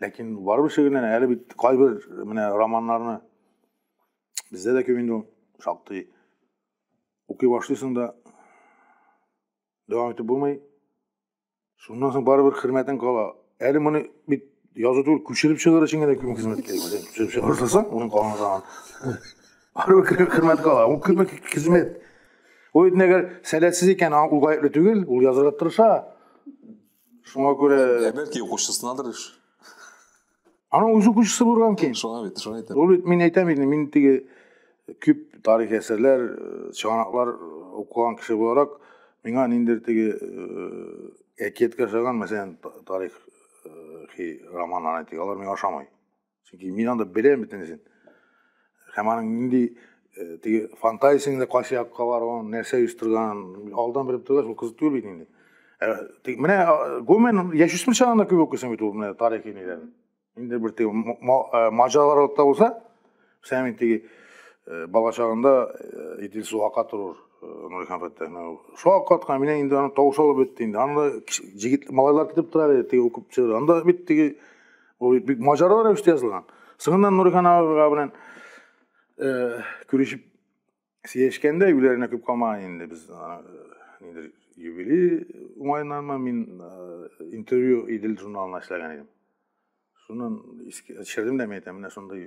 Ләкин барыбер шигырьләр әле бит кайбер менә романнарны бездә дә күп инде шактый укый башлыйсың да дәвам итеп булмый. Шуннан соң барыбер хөрмәтең кала. Әле моны бит язу түгел, күчереп чыгарыр өчен генә күп хезмәт кирәк. Күчереп чыгарсаң, уның калмаган. Хөрмәтле хөрмәт кала, ул күмәк хезмәт. Ул инде әгәр сәләтсез икән, ул гаепле түгел, ул язырга тырыша. Шуңа күрә Ә бәлки укучысынадыр эш. Аның үзе укучысы булган мөмкин. Шуңа бит, шуңа әйтәм. Ул мин әйтәм инде, мин теге күп тарих әсәрләр, э, чыганаклар укыган кеше буларак, миңа ниндер теге э, әкият кашаган, мәсәлән, тарих э, романнары әйтик, алар миңа ошамый. чөнки мин анда беләм бөтенесен һәм аның нинди э, теге фантазиясеңдә кайсы якка баруын нәрсә оештырганын алдан белеп торгач ул кызык түгел бит инде э, менә э, гомумән яшүсмер чагында күп укыйсың бит ул менә тарихи ниләрне инде бер теге маҗаралар да булса сән мин теге бала чагында идел су ака торыр нури хәмфәттә су аккаткан менә инде аны тавыш алып бетте инде анда җегет малайлар китеп тора бит теге укып чыгып анда бит теге Ул бик маҗаралы рәвештә язылган. Соңыннан Нурихан агага белән э, күрешеп сөйләшкәндә юләренә күп калмаган инде без нидер юбилей уңаеннанмы мин э, интервью Идел журналына эшләгән идем. Шуннан ишердем дә әйтәм, менә шундый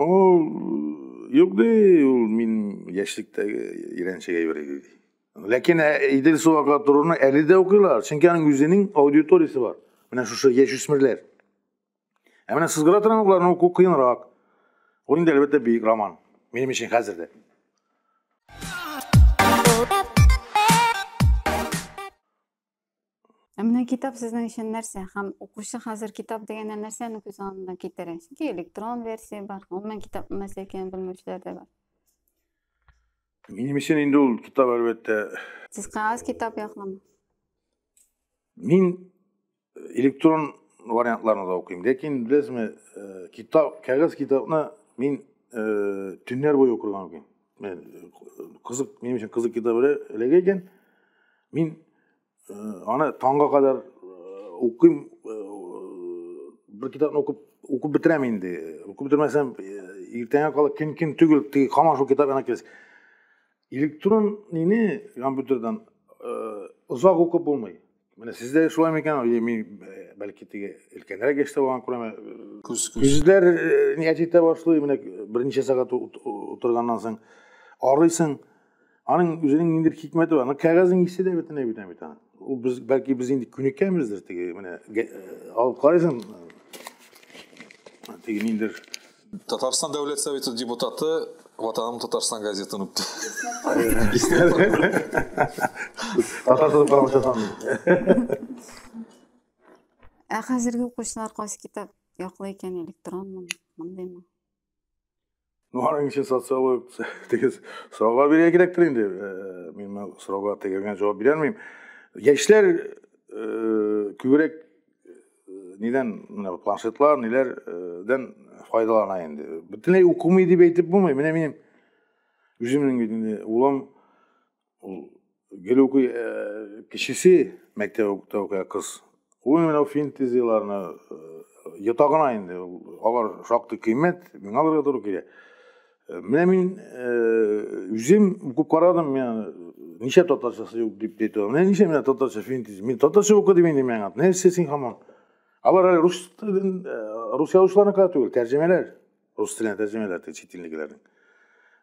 Ул юк ди, ул мин яшьлектәге ирәнчек әйбер иде ди. Ләкин ә, Идел Суака торуны әле дә укыйлар, чөнки аның үзенең аудиториясе бар. Менә шушы яшүсмерләр. Ә менә сызгыра торган укуларны уку кыенрак. Ул инде әлбәттә бөек роман. Минем өчен хәзер дә. Ә менә китап сезнең өчен нәрсә? Һәм укучы хәзер китап дигәндә нәрсәне күз алдына китерә? Чөнки электрон версия бар, гомумән китапның нәрсә икәнен белмәүчеләр дә бар. Минем өчен инде ул китап әлбәттә. Сез кагаз китап яклама. Мин э, электрон вариантларны да укыйм, ләкин беләсезме, э, китап, кагаз китапны мин э, төннәр буе укырга мөмкин. мен кызык минем өчен кызык китап эләгә икән мин аны таңга кадәр укыйм бер китапны укып укып бетерәм инде укып бетермәсәм иртәңә кала көн көн түгел теге һаман шул китап янына киләсең электрон нини компьютердан озак укып булмый Менә сездә шулай микән? Мин бәлки теге өлкәнрәк яшьтә булган күрәме? Күз күз. Күзләр нигә җитә башлый? Менә берничә сәгать утырганнан соң арыйсың. Аның үзенең ниндидер хикмәте бар. Кәгазьнең исе дә бөтенләй бетә бит аны. Ул без бәлки без инде күнеккәнбездер теге менә алып карыйсың. Теге ниндидер Татарстан Дәүләт Советы депутаты Ватаным Татарстан газетын үпте. Татарстан правшасын. Ә хәзерге укучылар кайсы китап яклы икән, электронмы, мондыймы? Ну, аның өчен социолог дигез сорауга бирергә кирәктер инде. Э, мин сорауга тегелгән җавап бирә алмыйм. Яшьләр э, күбрәк нидән менә планшетлар ниләрдән файдалана инде бөтенләй укымый дип әйтеп булмый менә минем үземнең бит инде улым ул гел укый э, кечесе мәктәптә укый кыз ул менә финтезияләрне э, йотагына инде алар шактый кыйммәт миңа алырга туры килә Э, менә мин э, үзем укып карадым, мен ничә татарчасы юк дип әйтә. Менә ничә менә татарча фильм диз. Мин татарча укыдым инде миңа. Нәрсә син хаман? Алар әле рус телен, э, рус язучыларына кара түгел, тәрҗемәләр. Рус теленә тәрҗемәләр чит иллегеләрнең.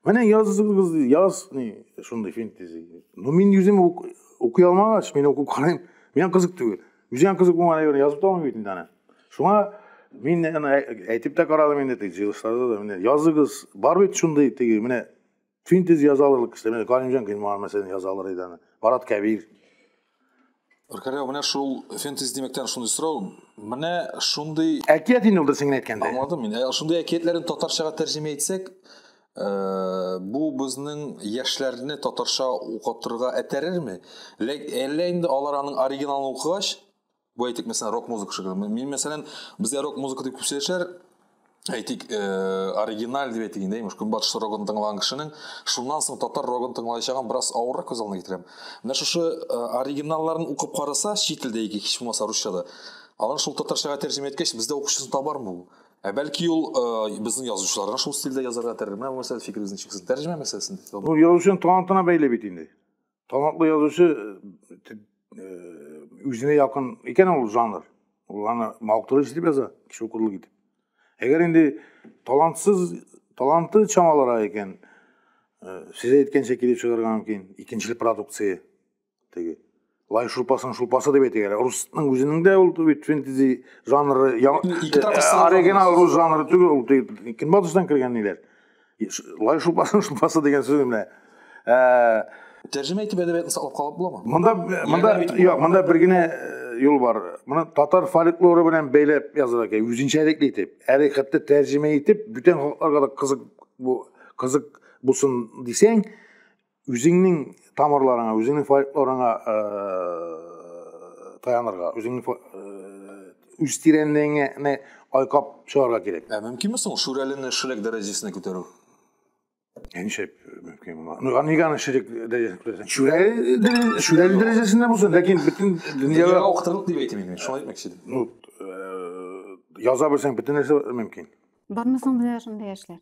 Менә языгыз, яз, ни, шундый фильм диз. Ну мин үзем укый алмагач, мин укып карыйм. Миңа кызык түгел. үзең кызык булмаган әйберне язып та бит инде аны шуңа мин аны әйтеп тә карадым инде теге җыелышларда да менә языгыз бар бит шундый теге менә синтез яза алырлык кеше менә галимҗан гыйльман мәсәлән яза алыр иде аны марат кәбир Ркаряу, менә шул фэнтези димәктән шундый сорау. Менә шундый әкият инде ул дөресен генә әйткәндә. Аңладым мин. Ә шундый әкиятләрен татарчага тәрҗемә итсәк, Э, бу безнең яшьләрне татарча укытырга этәрерме әллә инде алар аның оригиналын укыгач бу әйтик мәсәлән рок музыка шикелле мин мәсәлән бездә рок музыка дип күп сөйләшәләр әйтик э, оригиналь дип әйтик инде имеш көнбатыш рогын тыңлаган кешенең шуннан соң татар рогын тыңлаячагын бераз авыррак күз алдына китерәм менә шушы э, оригиналларын укып караса чит телдә яки һич булмаса русчада алар шул татарчага тәрҗемә иткәч бездә укучысын табармы ул Ә бәлки ул э, безнең язучыларга шул стильдә язарга тәрәзә, менә мәсәлә фикерегезне чиксез тәрҗемә мәсьәләсен. Ну, язучының талантына бәйле бит инде. Талантлы язучы э, э, үзенә якын икән ул жанр. Ул аны мактырыш дип яза, кеше укырлык итеп. Әгәр инде талантсыз, таланты чамалара икән, э, сез әйткәнчә килеп чыгарга мөмкин, икенчел продукция. теге лай шулпасын шулпасы деп әйтик әле русның үзенең дә ул бит фэнтези жанры оригинал рус жанры түгел ул көнбатыштан кергән ниләр лай шулпасын шулпасы дигән сүз менә тәрҗемә итеп әдәбиятны саклап калып буламы монда монда юк монда бер генә юл бар моны татар фольклоры белән бәйләп язырга кирәк үзенчәлекле итеп әле хәтта тәрҗемә итеп бүтән халыкларга да кызык бу кызык булсын дисәң үзеңнең тамырларыңа үзеңнең фольклорыңа э, таянырга үзеңнең э, үз тирәнлегеңне айкап чыгарга кирәк ә мөмкинме соң шүрәлене шрек дәрәҗәсенә күтәрү Ничек мөмкин була? Ну, Аниганы ширек дәрәҗәсен күрәсең. Шүрәле шүрәле дәрәҗәсендә булсын, ләкин бөтен дөньяга уктырып дип әйтәм инде. Шулай әйтмәкче идем. Ну, яза белсәң бөтен нәрсә мөмкин. Бармы соң менә шундый яшьләр?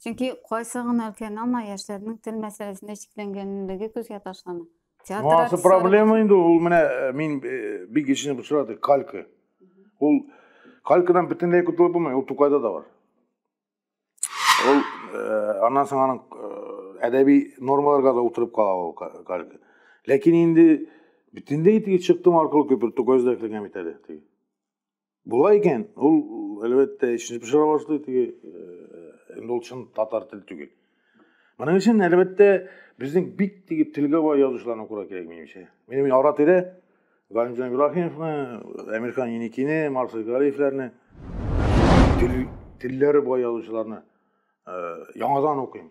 Чөнки кайсы гына өлкән алма яшьләрнең тел мәсьәләсендә чикләнгәнлеге күзгә ташлана. Театр Муасы артистлары- проблема инде ул менә э, мин э, бик ишенеп очрады калька. Ул калькадан бөтенләй котылып булмый, ул Тукайда да бар. Ул э, аннан соң аның э, әдәби нормаларга да утырып кала ул ка- калька. Ләкин инде бөтенләй теге чыктым аркылы күпер Тукайда эшләгән бит әле. теге. Була икән, ул әлбәттә эшне пешерә башлый, теге инде ул чын татар теле түгел. Моның өчен әлбәттә безнең бик теге телгә бай язучыларны күрә кирәк минемчә. Минем ара тирә Галимҗан Ибраһимовны, Әмирхан Еникине, Марсель Гарифләрне телләре бай язучыларны яңадан укыйм.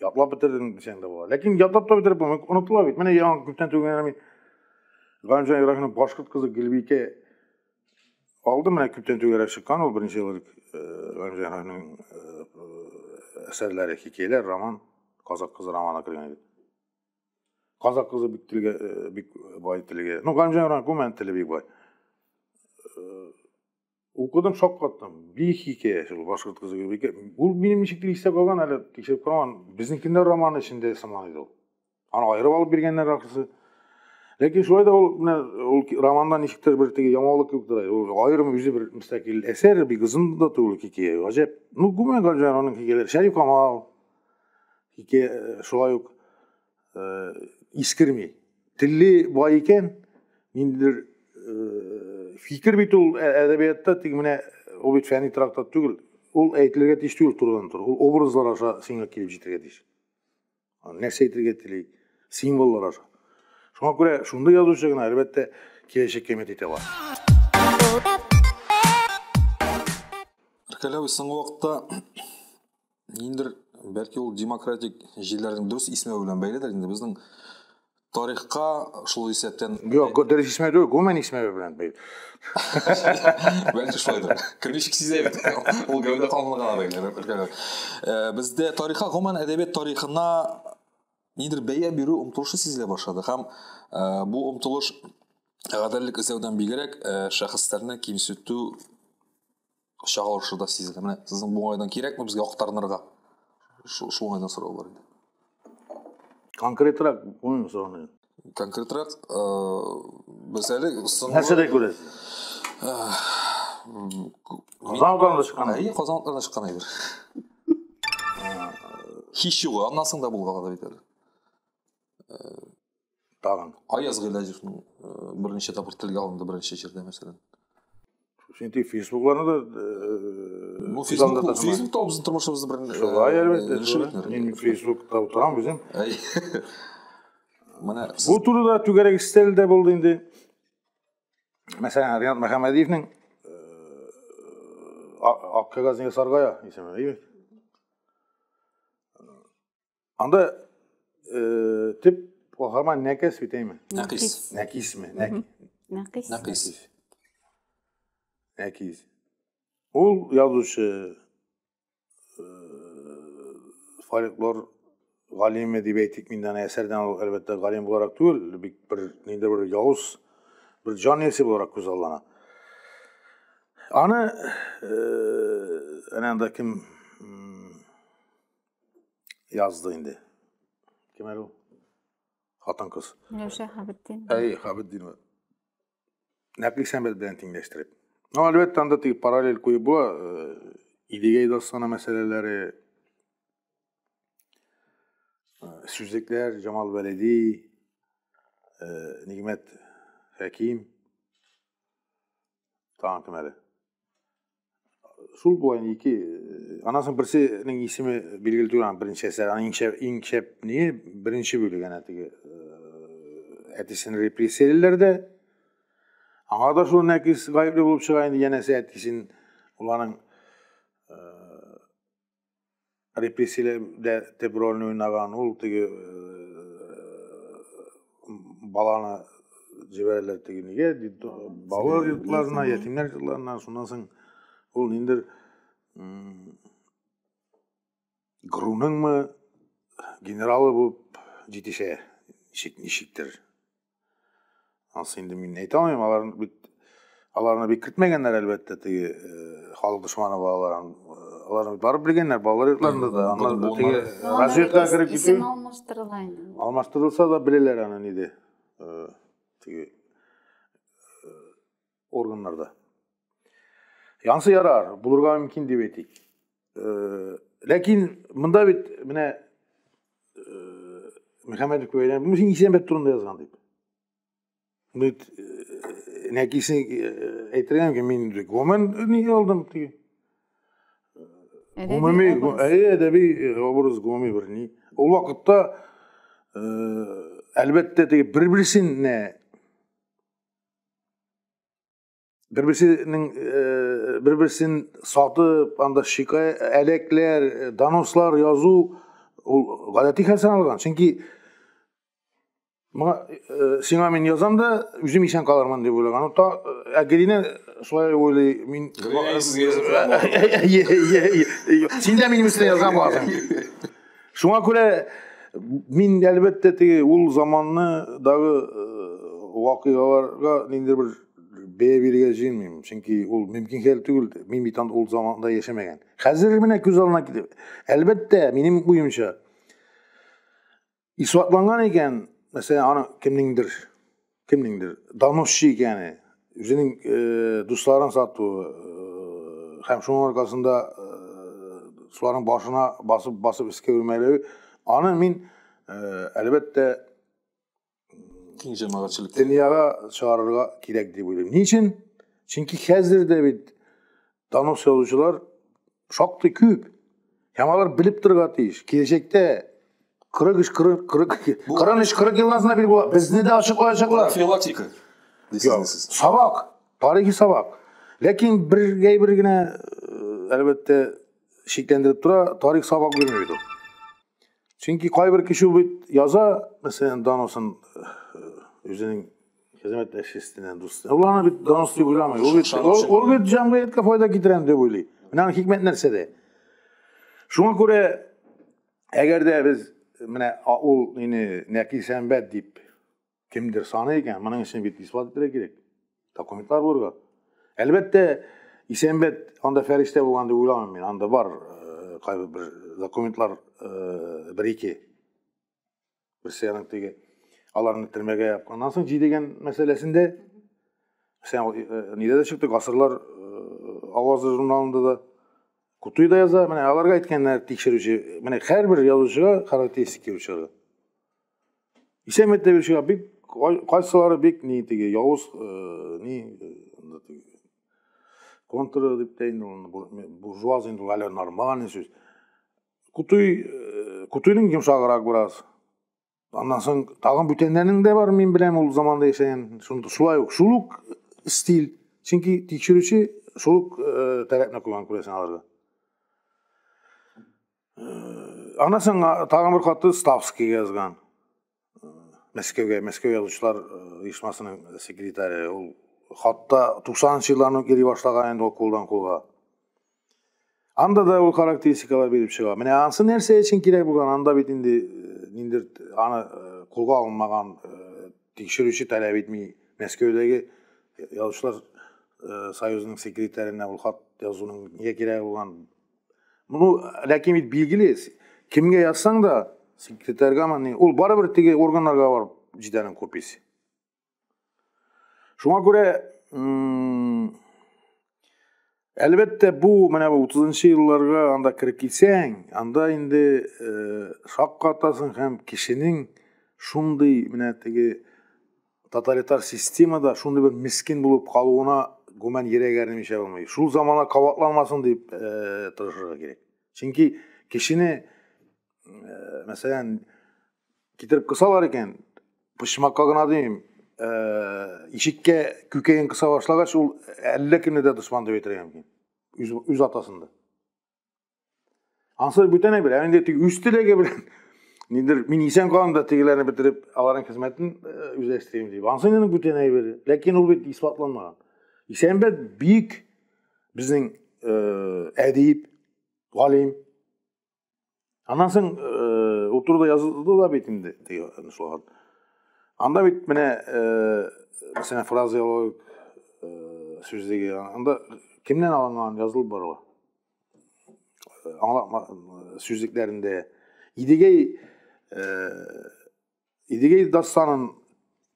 Ятлап бетердем дисәң дә була. Ләкин ятлап та бетереп булмый, онытыла бит. Менә яңа күптән түгел мин Ганжан Ираһинов башкорт кызы Гөлбикә алды менә күптән түгел чыккан ул беренче ел Ганжан Ираһинов әсәрләре, хикәяләр, роман, казак кызы романы кергән иде. Казак кызы бик телгә бик бай телгә. Ну Ганжан Ираһинов күмән теле бик бай. Укыдым, шаккаттым. Бик хикәя шул башкорт кызы Гөлбикә. Ул минем ничектер истә калган, әле тикшереп караман. Безнекендә роман эчендә сыман иде ул. Аны аерып алып биргәннәр ахрысы. Ләкин шулай да ул менә ул романда ничектер бер теге яңалык кебек тора. Ул аерым үзе бер мөстәкил әсәр, бик озын да түгел хикәя. Гаҗәп. Ну, гүмән гаҗәп аның хикәяләре. Шәриф Камал хикәя э, шулай ук э, искермей теле бай икән ниндидер э, фикер бит ул ә, әдәбиятта тик менә ул бит фәнни трактат түгел ул әйтелергә тиеш түгел турыдан тура ул образлар аша сиңа килеп җитәргә тиеш нәрсә әйтергә тели символлар аша шуңа күрә шундый язучы гына әлбәттә киләчәккә өмет итә бар Кәләви соңгы вакытта Ниндер, бәлки ул демократик җилләрнең дөрес исмәве белән бәйледер. Инде безнең тарихка шул исәптән... Юк, дөрес исмәве түгел, гуман исмәве белән бәйле. Бәлки шулайдыр. Кем ничек сизә бит. Ул гәүдә канлыгына бәйле. Э, бездә тарихка, гуман әдәбият тарихына ниндер бәя бирү омтылышы сизелә башлады һәм э, бу омтылыш гаделлек эзләүдән бигрәк э, шәхесләрне кимсетү чагылышы да сизелә менә сезнең бу уңайдан кирәкме безгә актарынырга шул уңайдан сораулар иде конкретрак күңел сораны конкретрак э, без әле нәрсәдә күрәсез э, казан утларында чыккан әйе казан утларында чыккан әйбер һич югы аннан соң да булган да бит әле э, тагын аяз гыйләҗевның э, берничә тапкыр телгә алынды берничә җирдә мәсәлән син тик фейсбукларны да ну фейсбук фейсбук та безнең тормышыбызны бер шулай әлбәттә мин фейсбукта утырам үзем менә бу турыда түгәрәк истәл дә булды инде мәсәлән ринат мәхәмәдиевнең ак кәгазьне ясарга исеме Анда э, төп каһарман Нәкәс бит әйме? Нәкис. Нәкисме? Нәки. Нәкис. Нәкис. Нәкис. Ул язучы э, фольклор галиме дип әйтик мин аны әсәрдән ул әлбәттә галим буларак түгел, бик бер ниндидер бер явыз бер җан иясе буларак күз аллана. Аны э, әнә анда кем Язды инде. Кем әле ул? Хатын кыз. Миләүшә Хабетдин. Әй, Хабетдинова. Нәкли сәмбәт белән тиңләштереп. Ну, әлбәттә, анда тип параллель куеп була. Э, Идегәй дастаны мәсьәләләре, э, сүзлекләр, Җамал Вәлиди, э, Нигмәт Хәким, тагын кем әле? Шул болай ике аннан соң берсенең исеме билгеле түгел аны беренче әсәр аның иң шәп иң шәп не беренче бүлек әнә теге әтисен репрессиялиләр дә аңа да шул нәкис гаепле булып чыга инде янәсе әтисен уланың репрессияләр дә төп рольне уйнаган ул теге э, баланы җибәрәләр теге нигә балалар йортларына ятимнәр йортларына шуннан соң ул ниндидер груныңмы генералы булып җитешә ничектер анысы инде мин әйтә алмыйм аларны бит аларны бик көтмәгәннәр әлбәттә теге э, халык дошманы балалар э, аларны барып белгәннәр балалар йортларында да аннан да теге разведкага кереп китү алмаштырыла инде алмаштырылса да беләләр аны ниде э, теге органнарда. Янсы ярар, булырга мөмкин дип әйтик. Э, ләкин монда бит менә э, Мөхәммәдов бәйләнеп, бу син Исәнбәт турында язган дип. Бит э, нәкисен әйтергә мөмкин, мин гомән ни алдым дип. Гомуми, әйе, әдәби образ гомуми бер ни. Ул вакытта әлбәттә теге бер-берсенә бер берсенең э, бер берсен сатып анда шикаят әләкләр э, донослар язу ул гадәти хәл саналган чөнки моңа э, сиңа мин язам да үзем исән калырмын дип уйлаган та ә гелинә шулай уйлый мин син дә минем өстенә яза аласың Шуңа күрә мин әлбәттә теге ул заманны дагы вакыйгаларга ниндидер бер бәя бирергә җыенмыйм. Чөнки ул мөмкин хәл түгел. Мин бит ул заманда яшәмәгән. Хәзер менә күз алдына килеп, әлбәттә, минем уемча, исбатланган икән, мәсәлән, аны кемнеңдер Кемнеңдер доносчы икәне, үзенең э, дусларын сатуы э, һәм шуның аркасында э, соларның башына басып басып искә үрмәләве, аны мин э, әлбәттә киң җәмәгатьчелек дөньяга чыгарырга кирәк дип уйлыйм. Ни өчен? Чөнки хәзер дә бит Донос язучылар шактый күп. Һәм алар белеп торырга тиеш. Киләчәктә 43 40 42 43 40 елдан соң бил була. Безне дә ачыклаячаклар. Филотика. Сабак, тарихи сабак. Ләкин бер гәй бер генә әлбәттә шикләндереп тора, тарих сабак бирми бит ул. Чөнки кайбер кеше бит яза, мәсәлән, даносын үзенең хезмәт әшестенә дус. Уланы бит данос дип уйламый. Ул бит ул бит җәмгыятькә файда китерәм дип уйлый. Менә аның хикмәт нәрсәдә? Шуңа күрә әгәр дә без менә ул мине нәки сәнбәт дип Кемдер саны икән, моның өчен бит исбат итәргә кирәк. Документлар булырга. Әлбәттә, Исәнбәт анда фәрештә булган дип уйламыйм мин. Анда бар э, кайбер бер документлар э, бер ике. Берсе аның теге аларны төрмәгә япканнан соң җидегән мәсьәләсендә сән э, нидә дә чыкты, гасырлар авазы журналында да Кутуй да яза, менә аларга әйткәннәр тикшерүче, менә һәрбер язучыга характеристика бирүчеләр. Исән Мәттәбилчегә бик кайсылары бик ни теге явыз э, ни э, контры дип тә инде аны буржуаз инде әле нормальный сүз. Кутуй э, Кутуйның йомшаграк бераз. Аннан соң тагын бүтәннәрнең дә бар, мин беләм ул заманда яшәгән. Шунда шулай ук шул ук стиль. Чөнки тикшерүче шул ук таләпне куйган күрәсең аларга. Ана соң тагын бер хаты Ставскийга язган. Мәскәүгә, Мәскәү язучылар оешмасының секретаре. Ул хатта 90-нчы елларны йөри башлаган инде ул кулдан кулга. Анда да ул характеристикалар биреп чыга. Менә ансы нәрсә өчен кирәк булган? Анда бит инде э, ниндер аны э, кулга алынмаган э, тикшерүче таләп итми. Мәскәүдәге язучылар союзының секретаренә ул хат язуның нигә кирәк булган? Ну, ләкин бит билгеле, кемгә язсаң да, секретарьга мани, ул барыбер теге органнарга барып җитәнең копиясе. Шуңа күрә Әлбәттә, бу менә 30 елларга анда кереп килсәң, анда инде э, шаккатасың һәм кешенең шундый менә теге Тоталитар системада шундый бер мискин булып калуына гүмән йөрәк әрнемичә булмый. Шул замана кабатланмасын дип э, тырышырга кирәк. Чөнки кешене, э, мәсәлән, китереп кысалар икән, почмакка гына дим, э, ишеккә күкәен кыса башлагач, ул әллә кемне дә дошман дип әйтергә мөмкин. Үз, үз атасында. Ансыз бүтән әйбер, ә инде теге үз теләге белән нидер мин исән калам да тегеләрне бетереп аларның хезмәтен э, үзләштерим дип. Ансыз инде бүтән әйбер, ләкин ул бит исбатланмаган. Исәнбәт бик безнең э, әдип, галим, Аннан соң э, ул турыда язылды да бит инде теге шулар. Анда бит менә э, мәсәлән фразеологик э, сүз дигән анда кемнән алынган язылып барыла. Аңлатма сүзлекләрендә Идегәй Идегәй дастанын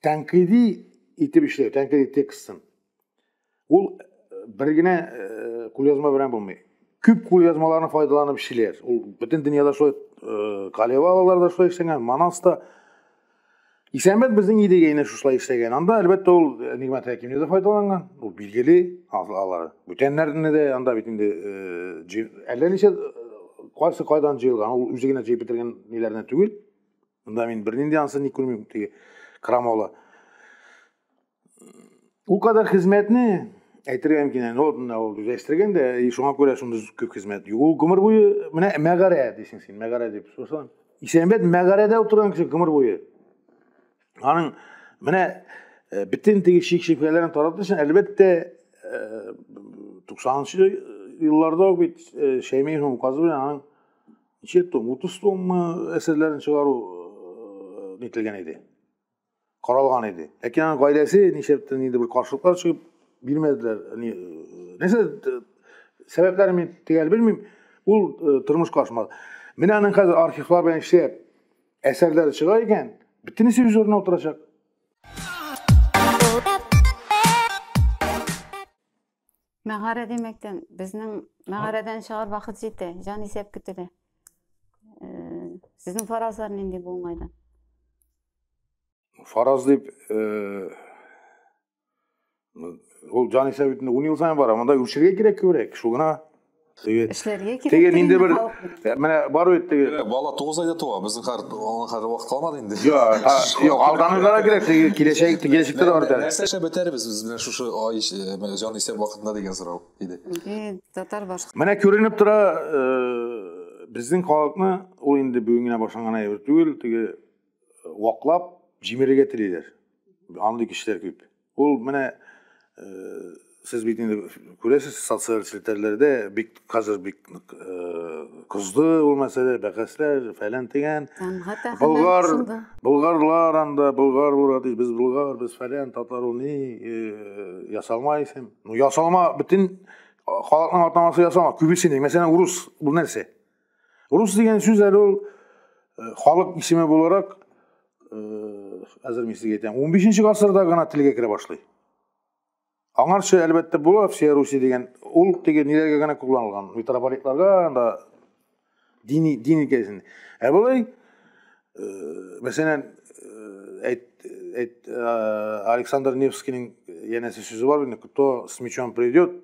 тәнкыйди итеп эшләү, тәнкыйди текстын. Ул э, бер генә э, кулъязма белән булмый. Күп кулъязмаларны файдаланып эшлиләр. Ул бөтен дөньяда шулай э, Калевалалар да шулай эшләгән, Манас та. Исәнбәт безнең Идегәйне шушылай эшләгән. Анда әлбәттә ул Нигмәт Хәкимне дә файдаланган. Ул билгеле, алар бүтәннәрне дә анда бит инде әллә ничә кайсы кайдан җыелган, ул үзе генә җыеп бетергән ниләрне түгел. мында мин бернинди ансы не күрмим теге крамола ул кадәр хезмәтне әйтергә мөмкин әнә ул мына ул үзләштергән дә и шуңа күрә шундый күп хезмәт ул гомер буе менә мәгарә дисең син мәгарә дип сосын исәнбәт мәгарәдә утырган кеше гомер буе аның менә э, бөтен теге шик шөбһәләрен тарату өчен әлбәттә э, туксанынчы елларда ук бит э, шәймиевнең указы белән аның ничә том утыз томмы әсәрләрен чыгару нителгән иде каралган иде ләкин аның гаиләсе нишләптер инде бер каршылыклар чыгып бирмәделәр нәрсә сәбәпләрен мин төгәл белмим ул тормышка ашмады менә аның хәзер архивлар белән эшләп әсәрләре чыга икән бөтенесе үз урынына утырачак Мәгарә димәктән, безнең мәгарәдән чыгар вакыт җитә, җан исәп көтелә. Сезнең фаразлар нинди бу уңайдан? Фараз дип, ул җан исәп итүне ун ел саен бара, монда үрчергә кирәк күбрәк, шул гына. эшләргә кирәк. Теге нинди бер э, менә бар бит теге. Э, бала 9 айда туа, безнең хәр аңа хәр вакыт калмады инде. Юк, юк, алданырга да кирәк, теге киләчәк, киләчәктә дә бар әле. Нәрсә эшләп бетәрбез без менә шушы ай э, җан исәп вакытында дигән сорау иде. Татар башка. Менә күренеп тора, безнең халыкны ул инде бүген генә башланган әйбер түгел, теге ваклап җимерергә телиләр. Андый кешеләр күп. Ул менә сез бит инде күрәсез социаль челтәрләрдә бик хәзер бик кызды ул мәсьәлә бәхәсләр фәлән дигән болгар болгарлар анда болгар урады без болгар без фәлән татар ул ни ясалма исем ну ясалма бөтен халыкның атамасы ясалма күбесенең мәсәлән урыс бу нәрсә Рус дигән сүз әле ул э, халык исеме буларак әзер мин сезгә әйтәм, 15 гасырда гына телгә керә башлый. Аңарчы әлбәттә була Всея Руси дигән, ул теге ниләргә генә кулланылган, митрополитларга, анда дини дин икәсен. Ә болай мәсәлән, әйт, әйт, Александр Невскийның янәсе сүзе бар инде, кто с мечом придет,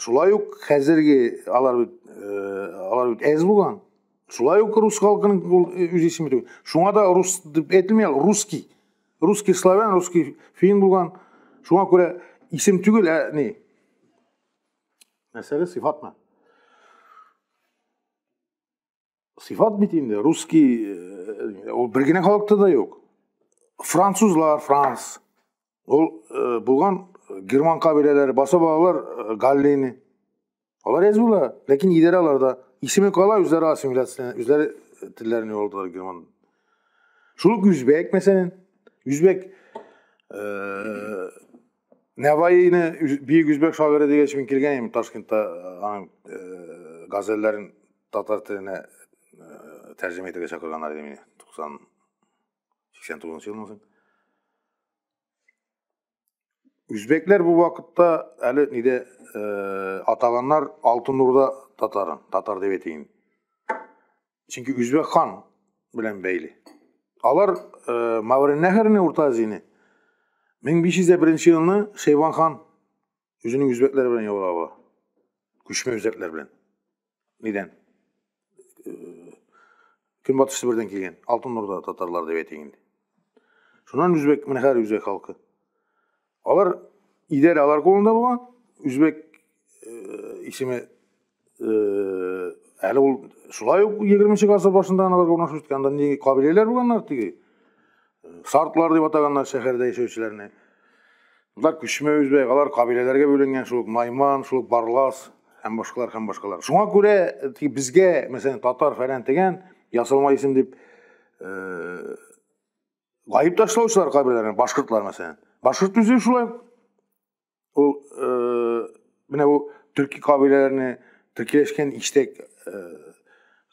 Шулай ук хәзерге алар бит э, алар бит әз булган. Шулай ук рус халкының ул э, үз исеме түгел. Шуңа да рус дип әйтелми, ал русский. Русский славян, русский фин булган. Шуңа күрә исем түгел, ә ни? Мәсьәлә сыйфатмы? сыйфат бит инде русский э, ул бер генә халыкта да юк французлар франс ул э, булган э, герман кабиләләре баса балалар галлини алар язып була ләкин идарә аларда исеме кала үзләре ассимиляция үзләре телләрен югалдылар герман шул үк үзбәк мәсәлән үзбәк Нәваины бөек үзбәк шагыйре дигәч мин килгән идем Ташкентта э, аның э, газәлләрен татар теленә э, тәрҗемә итәргә чакырганнар иде мине 90 89 елдан соң. Үзбәкләр бу вакытта әле нидә атаганнар Алтын Урда татарын, татар дип әйтәйин. Чөнки үзбәк хан белән бәйле. Алар э, Маврин нәһәренә Урта Азияне 1501 елны Шейван хан үзенең үзбәкләре белән яулап ала. Күчмә үзбәкләр белән. Нидән? Э, Көнбатыш Себердән килгән Алтын Урда татарлар дип әйтик инде. Шуннан үзбәк, менә хәзер үзбәк халкы. Алар идәрә алар кулында булган, үзбәк э, исеме э, әле ул шулай ук 20 гасыр башында алар урнашып киткән, анда ни кабиләләр булганнар теге. Э, сартлар дип атаганнар шәһәрдә яшәүчеләрне. Алар күчмә үзбәк, алар кабиләләргә бүленгән, шул Найман, шул Барлас һәм башкалар һәм башкалар. Шуңа күрә э, безгә, мәсәлән, татар фәлән дигән ясалма исем дип э, Гайып ташлаучылар каберләренә башкортлар мәсәлән. Башкорт үзе шулай. Ул э, менә бу төрки кабиләләрне төркиләшкән иштәк э,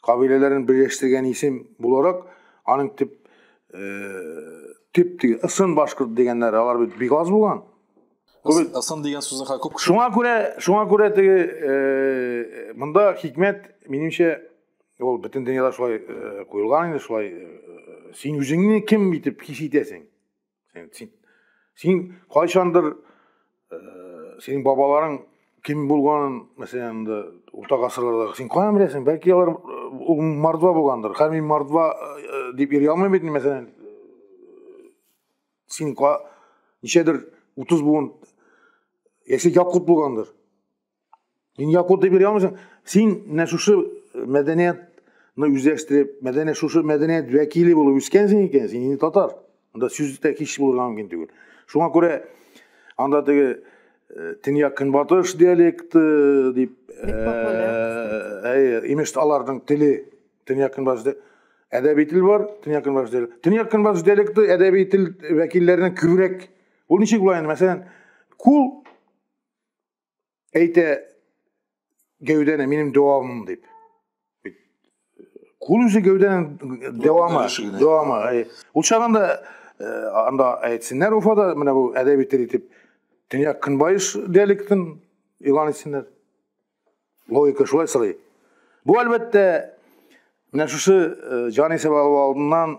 кабиләләрен берләштергән исем буларак аның төп э, төп диге ысын башкорт дигәннәр алар бит бик аз булган. Ысын дигән сүзне ха күп. Шуңа күрә шуңа күрә теге э, монда хикмәт минемчә Ул бөтен дөньяда шулай э, куелган инде, шулай э, э, син үзеңне кем итеп хис итәсең? Син син, син кайчандыр синең бабаларың кем булганын, мәсәлән, инде урта гасырларда син каян беләсең? Бәлки алар ул мордва булгандыр. Хәм мин мордва дип йөри алмыйм бит, мәсәлән. Син ничәдер 30 буын яши якут булгандыр. Син якуты бирә алмыйсың. Син менә шушы э, мәдәниятны үзләштереп, мәдәният шушы мәдәният вәкиле булып үскәнсең икән, син инде татар. Анда сүз дә кич булырга мөмкин түгел. Шуңа күрә анда теге э, төньяк көнбатыш диалекты дип э, имеш аларның теле төньяк көнбатыш әдәби тел бар, төньяк көнбатыш диалекты. Төньяк көнбатыш диалекты әдәби тел вәкилләренә күбрәк. Ул ничек була инде? Мәсәлән, кул әйтә гәүдәне минем дәвамым дип кул үзе гәүдәнең дәвамы дәвамы ул чагында анда әйтсеннәр уфада менә бу әдәби тел итеп төньяк көнбайыш диалектын игълан итсеннәр логика шулай сорый бу әлбәттә менә шушы җан исәп алу алдыннан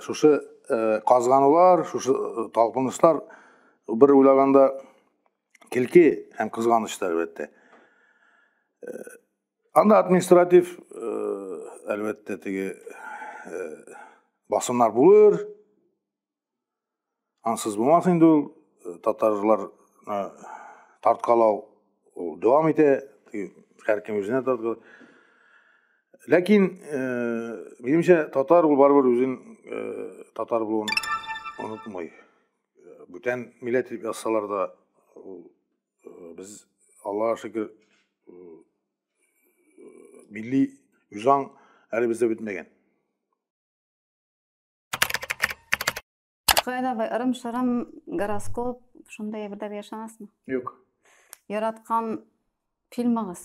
шушы казганулар шушы талпынышлар бер уйлаганда Килки һәм кызганыч та әлбәттә. Анда административ әлбәттә теге басымнар булыр. Ансыз булмас инде ул татарлар тарткалау ул дәвам итә. Һәркем үзенә тарткалау. Ләкин, минемчә, татар ул барыбер үзен татар булуын онытмый. Бүтән милләт дип язсалар да, без Аллаһ шөкер милли үҗаң әле бездә бетмәгән. Хәзер дә ырым-шырым, гороскоп, шундый әйберләргә ышанасызмы? Юк. Яраткан фильмыгыз?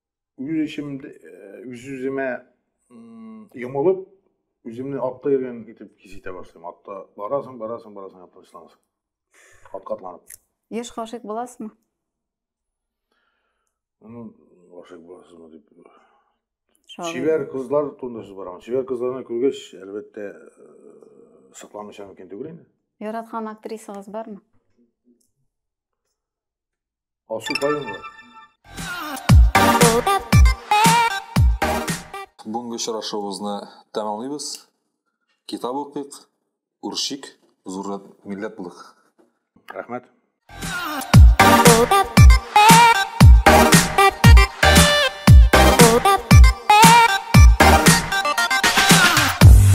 үз эчем үз үземә йомылып үземне атта йөргән итеп хис итә башлыйм атта барасың барасың барасың тынычланасың атка атланып еш гашыйк буласызмы ну гашыйк буласызмы дип чибәр кызлар турында сүз барамын чибәр кызларны күргәч әлбәттә сакланмыйча мөмкин түгел инде яраткан актрисагыз бармы Асу кайгы. Бүгенге очрашуыбызны тәмамлыйбыз. Китап укыйк, үршик, зур милләт булыйк. Рәхмәт.